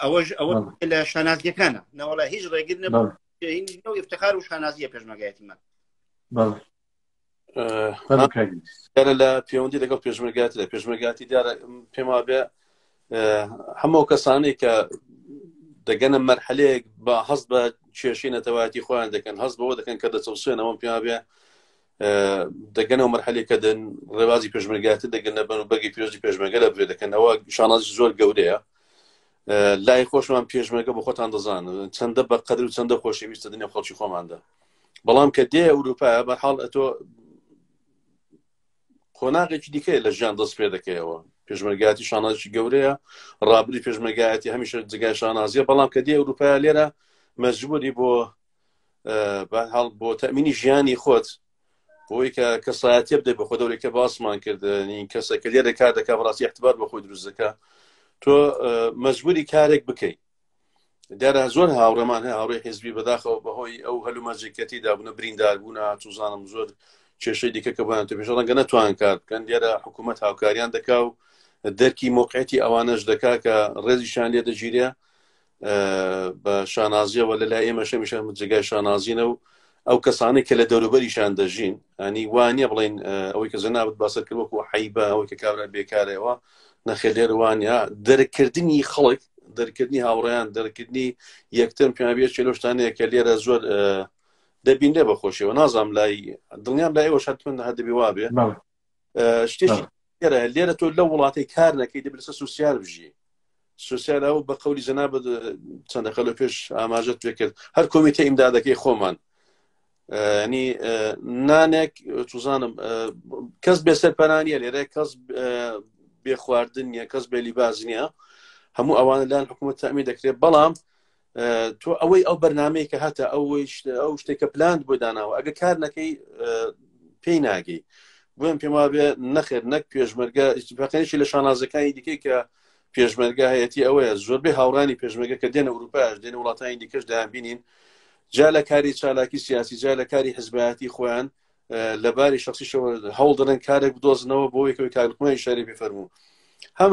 ئەوەش ئەوە لە شانازیەکانە نەوەڵە هیچ ڕێگر نەبوو ئفتخار و شانازیە پێشمەگایەتیمان دیارە لە پەیوەندی لەگەڵ پێشمەرگاتی لە پێشمەرگاتی دیارە پێما بێ هەموو کەسانەی کە دەگەنە مەرحەلەیەک بە هەست بە کێشی نەتەواتی خۆیان دەکەن هەست بەوە دەکەن کە دەچەوسێنەوە پێما بێ دەگەنەوە مەرحەلی کە دەن ڕێوازی پێشمەرگاتی دەگەنە بەن و بەگی پێشی پێشمەگە لە بێ دەکەنەوە شاناز زۆر گەورەیە لای خۆشمان پێشمەگە بە خۆتان دەزانن چەندە بە قەدر و چەندە خۆشەویستە دنیا خەڵکی خۆماندا بەڵام کە دێ ئەوروپا بەحاڵ ئەتۆ قۆناغێکی دیکەیە لە ژیان دەست پێ دەکەیەوە پێشمەرگاتی شانازی گەورەیە ڕابری پێشمەگایەتی هەمیشە جگای شانازیە بەڵام کە دی ئەوروپا لێرە مەجبوری بۆ هەڵ بۆ تەمینی ژیانی خۆت بۆی کە کەسایەتی بدە بە خۆ دەورێکە باسمان کردنی کەسەکە لێرە کار دەکە بەڕاستی احتبار بە خۆی دروستەکە تۆ مەجبوری کارێک بکەیت دەرا زۆر هاوڕێمان هەیە هاوڕێ حزبی بەداخەوە بەهۆی ئەو هەلومەجێکەتی دابنە بریندار بوون هاتوزانم زۆر کێشەی دیکە کە بۆیان تەپێش ڕەنگە نەتوان کار بکەن دیێرە حکوومەت هاوکاریان دەکا و دەرکی مۆقعەتی ئەوانەش دەکا کە ڕێزیشان لێ دەگیرێ بە شانازیەوە لە لای ئێمەشەمیشە جگای شانازینە و ئەو کەسانەی کە لە دەوروبەریشان دەژین ئەنی وانە بڵین ئەوەی کە جەنابەت باسەر کرد وەکو حیبە ئەوەی کە کابرا بێکارەوە نەخێ لێر وانە دەرکردنی خەڵک دەرکردنی هاوڕیان دەرکردنی یەکتم پێبێت چێ لەشتانەیە کە لێرە زۆر دەبین لێ بەخۆشیەوە نازام لای دڵنیام لای ئەوە شتمن هەدەبی وابێ شتێکی گەرە لێرە تۆ لە وڵاتی کار نەکەی دەبێت لەسەر سوسیال بژی سوسیال ئەو بە قولی جەنا چەندەکە لە پێش ئاماژەت پێ کرد هەر کۆمیتە ئیمدادەکەی خۆمان ینی نانێک توزانم کەس بێ سەرپەرانیە لێرە کەس بێ خواردن نیە کەس بێ لیباز نیە هەموو ئەوانە لایەن حکوومەت تامی دەکرێت بەڵام تۆ ئەوەی ئەو بەرنمەیە کە هاتە ئەوەی ئەو شتێکە پلاند بۆ داناوە ئەگە کار نەکەی پێی ناگەی بۆم پێم وابێ نەخێر نەک پێشمەرگە بەقێنشی لە شانازەکانی دیکەی کە پێشمەرگە هەیەی ئەوەیە زۆربەی هاوڕانی پێشمەگە کە دێنە ئەوروپاش دێن وڵاتانی دیکەش دایان بینین جا لە کاری چالاکی سیاسی جا لە کاری حزبایەتی خۆیان لەباری شخصیشەوە هەوڵ دەن کارێک بدۆزنەوە بۆ یەکەوەی کارکومای شاری بفەرموو هەم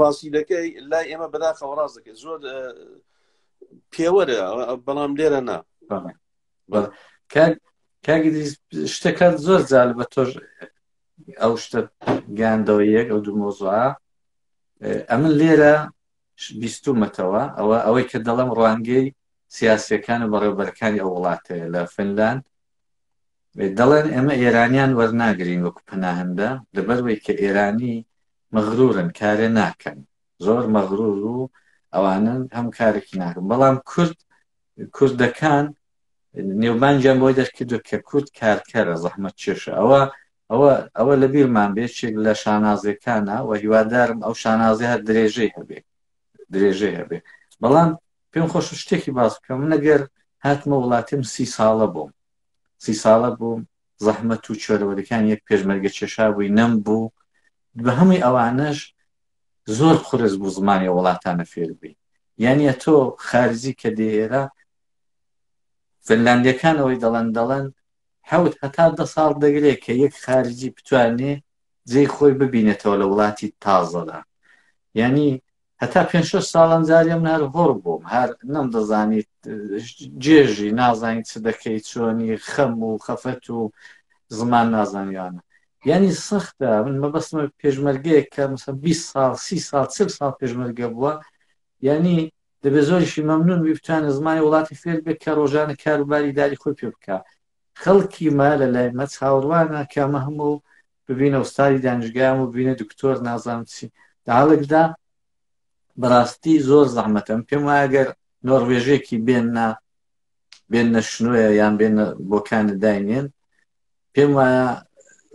ڕاستی دەکەی لای ئێمە بەداخەوە ڕاست دەکەی زۆر پێوەرە بەڵام لێرە نا کاگریز شتەکان زۆر زال بە تۆش ئەو شتە گاندەوە یەک ئەو دوو مۆزوعە ئەمن لێرە بیستومەتەوە ئەوە ئەوەی کە دەڵم ڕوانگەی سیاسەکان و بەڕێوبەرەکانی ئەو وڵاتەیە لە فنلاند دەڵێن ئێمە ئێرانیان وەرناگرین وەکو پەناهندە لەبەروەی کە ئێرانی مەغرورن کارێ ناکەن زۆر مەغرور و ئەوانن هەم کارێکی ناکەن بەڵام کورد کوردەکان نێوبانجیان بۆی دەرکردو کە کورد کارکەرە زەحمەت چێشە ئەوە ئەوە ئەوە لە بیرمان بێچێک لە شانازەکانە و هیوادارم ئەو شانازی هەر درێژەی هەبێ درێژەی هەبێ بەڵام پێم خۆش شتێکی باس بکەم نەگەر هاتمە وڵاتیم سی ساڵە بووم سی ساڵە بووم زەحمەت و چۆلوەلکانی یەک پێشمەرگە چێشابووی نەم بوو بە هەمووی ئەوانەش زۆر قورس بوو زمانی وڵاتانە فێربی یانە تۆ خارزی کە دێ ئێرە فنلاندەکانەوەی دەڵەن دەڵەن حەوت هەتا دە ساڵ دەگرێت کە یەک خارجی بتوانێ جێی خۆی ببینێتەوە لە وڵاتی تازەدا یعنی هەتا پێنج شەش ساڵان جارێ من هەر هۆڕ بووم هەر نەم دەزانیت جێژی نازانیت چ دەکەیت چۆنی خەم و خەفەت و زمان نازانیانە یعنی سەختە من مەبەستمە پێشمەرگەیەک کە مثلا 20 ساڵ سی ساڵ چل ساڵ پێشمەرگە بووە یعنی دەبێت زۆریشی مەمنون بی بتوانێت زمانی وڵاتی فێر بێت کە ڕۆژانە کاروباری داری خۆی پێ بکە خەڵکی ما لە لای مە چاوەڕوانە کە مە هەموو ببینە ئوستادی دانشگایەم و ببینە دکتۆر نازانم چی لە هەڵێکدا بەڕاستی زۆر زەحمەتم پێم وایە گەر نۆڕوێژێکی بێننا بێنە شنوۆیە یان بێنە بۆ کانەداینێن پێم وایە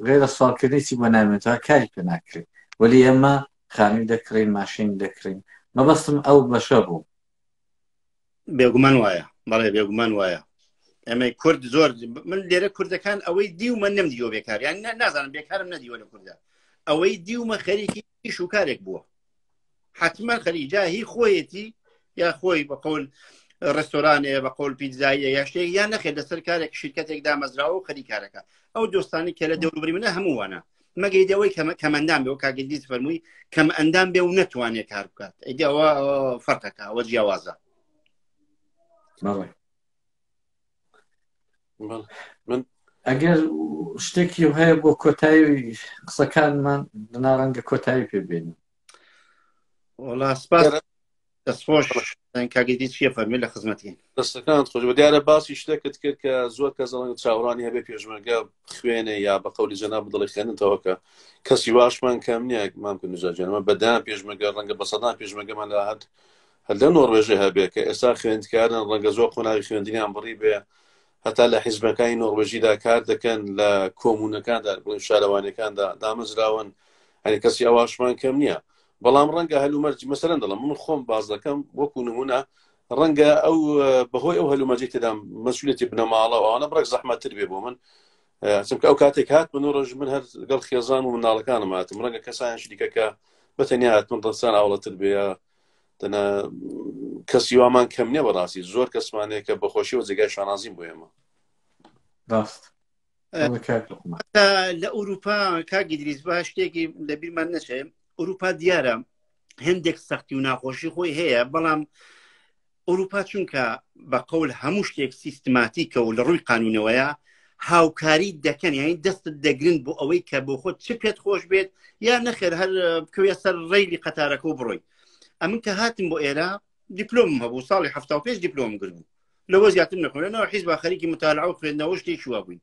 غێرە سوالکردنی چی بۆ نامێنێتەوە کاری پێ ناکرێت وەلی ئێمە خانووی دەکڕین ماشین دەکڕین مەبەستم ئەو بەشە بوو بێگومان وایە بەڵێ بێگومان وایە ئەمەی کورد زۆر من لێرە کوردەکان ئەوەی دیومە نم دیوە بێکار یان نازانم بێکارم نەدیوە لە کوردە ئەوەی دیومە خەریکی ئیش و کارێک بووە حتمما خەریجا هی خۆیەتی یا خۆی بە قول ڕستۆرانێ بە قول پیتزایە یا شتێک یان نەخێت لەسەر کارێک شرکتێک دامەزراوە و خەریکارەکە ئەو دۆستانی کە لە دەوروبری منە هەمووانە مەگەی دەوەی کەمە کەمەندان بێ و کاگەدیت فەرمووی کەم ئەندام بێ و نەتوانێ کار بکات ئەوە فەرقەکە ئەوە جیاوازە من ئەگەر شتێکی هەیە بۆ کۆتایی قسەکانمان دناڕەنگە کۆتایی پێبێنی وڵا سپاس دەستخۆش کاگەدی چیە فەرمی لە خزمەتین دەستەکانت خۆش بە دیارە باسی شتێکت کرد کە زۆر کە زەڵنگ چاوڕانی هەبێ پێشمەرگە خوێنێ یا بە قەولی جەنا بدڵی خوێنتەوە کە کەسی واشمان کەم نییە مام کە نوزاجانمە بەدان پێشمەگە ڕەنگە بە سەدان پێشمەگەمان لە هەت هەر لە نۆڕێژێ هەبێ کە ئێستا خوێندکارن ڕەنگە زۆر قۆناوی خوێندنیان بڕی بێ هەتا لە حیزبەکانی نۆڕۆژیدا کار دەکەن لە کۆمونەکاندا بڵین شارەوانەکاندا دامەزراون هەنی کەسی ئەواشمان کەم نییە بەڵام ڕەنگە هەلومەرج مەسەرەن دەڵم من خۆم باز دەکەم وەکو نمونە ڕەنگە ئەو بەهۆی ئەو هەلومەجی تێدام مەسولێتی بنەماڵە ئەوانە بڕێک زەحمەتتر بێ بۆ من چمکە ئەو کاتێک هات من ڕژ من هەر گەڵ خێزان و مناڵەکانم هاتم ڕەنگە کەسان شریکەکە بەتەنیا هات من ڕسان ئاوڵەتر بێ دەنا کەسی وامان کەم نیە بەڕاستی زۆر کەسمانێکە بەخۆشیەوە جێگای شانازیم بۆ ئێمە ڕاست لە ئەوروپا کاگی دریز با شتێکی لە بیرمان نەچێ ئەوروپا دیارە هەندێک سەختی و ناخۆشی خۆی هەیە بەڵام ئەوروپا چونکە بە قەول هەموو شتێک سیستماتیکە و لە ڕووی قانونەوەیە هاوکاری دەکەن یعنی دەستت دەگرن بۆ ئەوەی کە بۆ خۆت چ پێت خۆش بێت یا نەخێر هەر بکەوێ سەر ڕێلی قەتارەکە و بڕۆی ئەمن کە هاتم بۆ ئێرە دیپلۆم هەبوو ساڵی ه پێش دیپلۆم گرت بوو لەوە زیاتر نەخۆێنەوە حیز با خەریکی متالعە و خوێندنەوە شتێکی وا بووین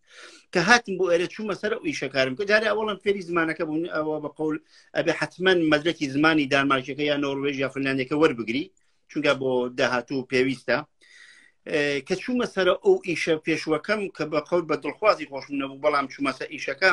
کە هاتم بۆ ئێرە چوومە سەر و ئیشەکارم کە جارێ ئەوڵم فێری زمانەکە بوون ئەوە بە قول ئەبێ حتمما مەدرکی زمانی دانمارکەکە یا نۆروێژ یا فنانەکە وەربگری چونکە بۆ داهاتوو پێویستە کە چوومە سەر ئەو ئیشە پێشوەکەم کە بە قەوت بە دڵخوازی خۆشم نەبوو بەڵام چوومەسە ئیشەکە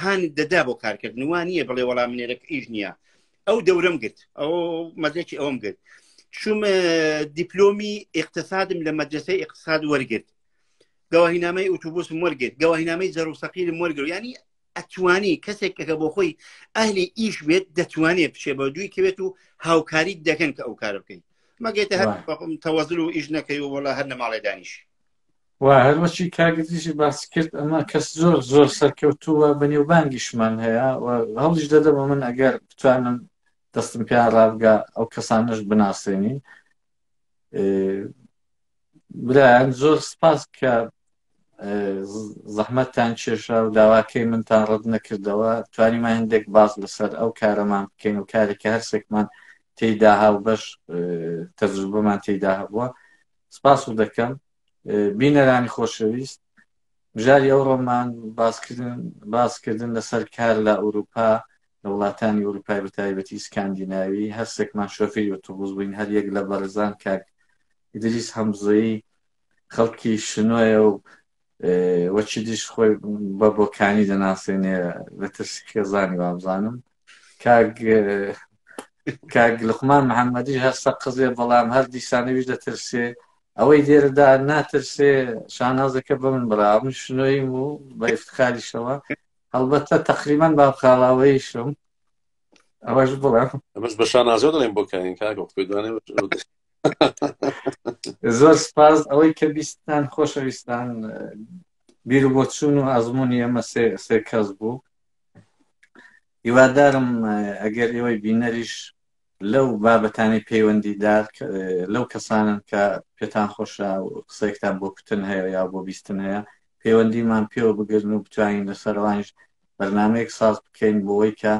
هان دەدا بۆ کارکردن وان نییە بڵێ وەڵا منێرەک ئیش نییە ئەو دەورم گرت ئەو مەزێکی ئەوم گرت شوم دیپلۆمی اقتصادم لە مەدرسەی اقتصاد وەرگرت گەواهینامەی ئوتوبوس مۆرگێت گەواهینامەی زەروسەقیری مۆرگر ینی ئەتوانی کەسێک کەکە بۆ خۆی ئەهلی ئیش بێت دەتوانێت بچێ بە دووی کەوێت و هاوکاری دەکەن کە ئەو کارە بکەین مەگەێتە هەر تەوەزل و ئیش نەکەی و وڵە هەر نەماڵێ دانیش و هەروەکی کاک دژی باسی کرد ئەمە کەس زۆر زۆر سەرکەوتووە بە نێوبانگیشمان هەیە و هەڵیش دەدەمە من ئەگەر بتوانم دەستم پێ ڕابگا ئەو کەسانش بناسێنی برایان زۆر سپاس کە زەحمەتتان کێشا و داواکەی منتان ڕەت نەکردەوە توانیمان هەندێک باز لەسەر ئەو کارەمان بکەین و کارێکە هەرسێکمان تێدا هاو بەش تەجروبەمان تێدا هەبووە سپاس و دەکەم بینەرانی خۆشەویست بژاری ئەو ڕۆمان باسکردن باسکردن لەسەر کار لە ئەوروپا لە وڵاتانی ئەوروپای بەتایبەتی سکاندیناوی هەرسێکمان شۆفێری ئۆتۆبوس بووین هەر یەک لە بەڕێزان کاک ئیدریس هەمزەیی خەڵکی شنۆیە و وەچی دیش خۆی بە بۆکانی دەناسێنێ لە ترسی خێزانی وابزانم کاک کاک لقمان محەممەدیش هەستە قزێ بەڵام هەر دیسانەویش دەترسێ ئەوەی لێرەدا ناترسێ شانازەکە بە من برا من شنۆیم و بە ئفتخاریشەوە هەڵبەتە تقریبان با خاڵاوەیشم ئەوەش بڵێم ئەمەش بە شانازە دەڵێم بۆ کارین کاکە خۆیدوانێ زۆر سپاس ئەوەی کە بیستان خۆشەویستان بیر بۆ چوون و ئەزمموی ئەمە سێ کەس بوو هیوادارم ئەگەر ئێوەی بینەریش لەو بابەتانی پەیوەندیدار لەو کەسانن کە پێتان خۆشە قسەێکتان بۆ کوتن هەیە یا بۆ بیستن هەیە پەیوەندیمان پێوە بگرن و بتوانین لەسەروانش بەرنمەیەک ساز بکەین بۆەوەی کە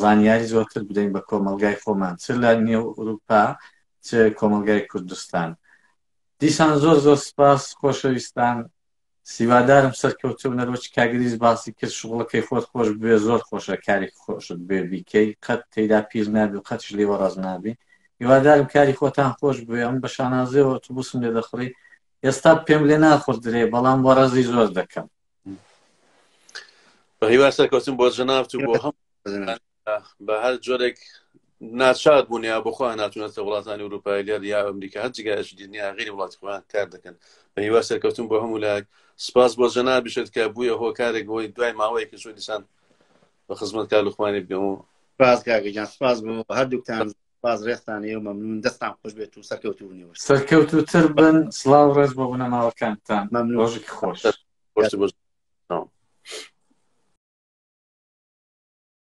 زانیاری زۆرتر بدەین بە کۆمەلگای خۆمان چ لە نێو ئوروپا چ کۆمەلگای کوردستان دیسان زۆر زۆر سپاس خۆشەویستان سیوادارم سەرکەوتوو بن. ئەروەچ کاگریس باسی کرد شغڵەکەی خۆت خۆش بوێ زۆر خۆشە کارێکی خۆشت بوێ بیکەی قەت تیدا پیر نابی و قەتیش لێی وەڕەز نابی هیوادارم کاری خۆتان خۆش بوێ ئەم بە شانازیەوە ئۆتوبوسم لێ دەخڕی ئێستا پێم لێ ناخوردرێ بەڵام وەڕەزی زۆر دەکەم بە هیوای سەرکەوتن بۆ جەنابت و بۆ هەموو بە هەر جۆرێک ناچار بوون یا بخوا ناتونەتە وڵاتانی وروپای لێر یا ئەمریکا هەر جگایش دنیا غیری وڵات خۆیان کار دەکەن بە هیوا سەرکەوتن بۆ هەموو لایەک سپاس بۆ جەنا بشێت کە بووە هۆکارێک بۆی دوای ماوەیەکە چۆ دیسان بە خزمەت کار لوخمانی بگەم و سپاس کاگەجان سپاس بۆ هەردووکتان باز ڕێستان ئێوە مەمنون دەستان خوش بێت و سەرکەوتوونی وش سەرکەوت و تر بن سلااو ڕێز بۆ بنەماوەکانتان مەمنون ڕۆژێکی خۆش.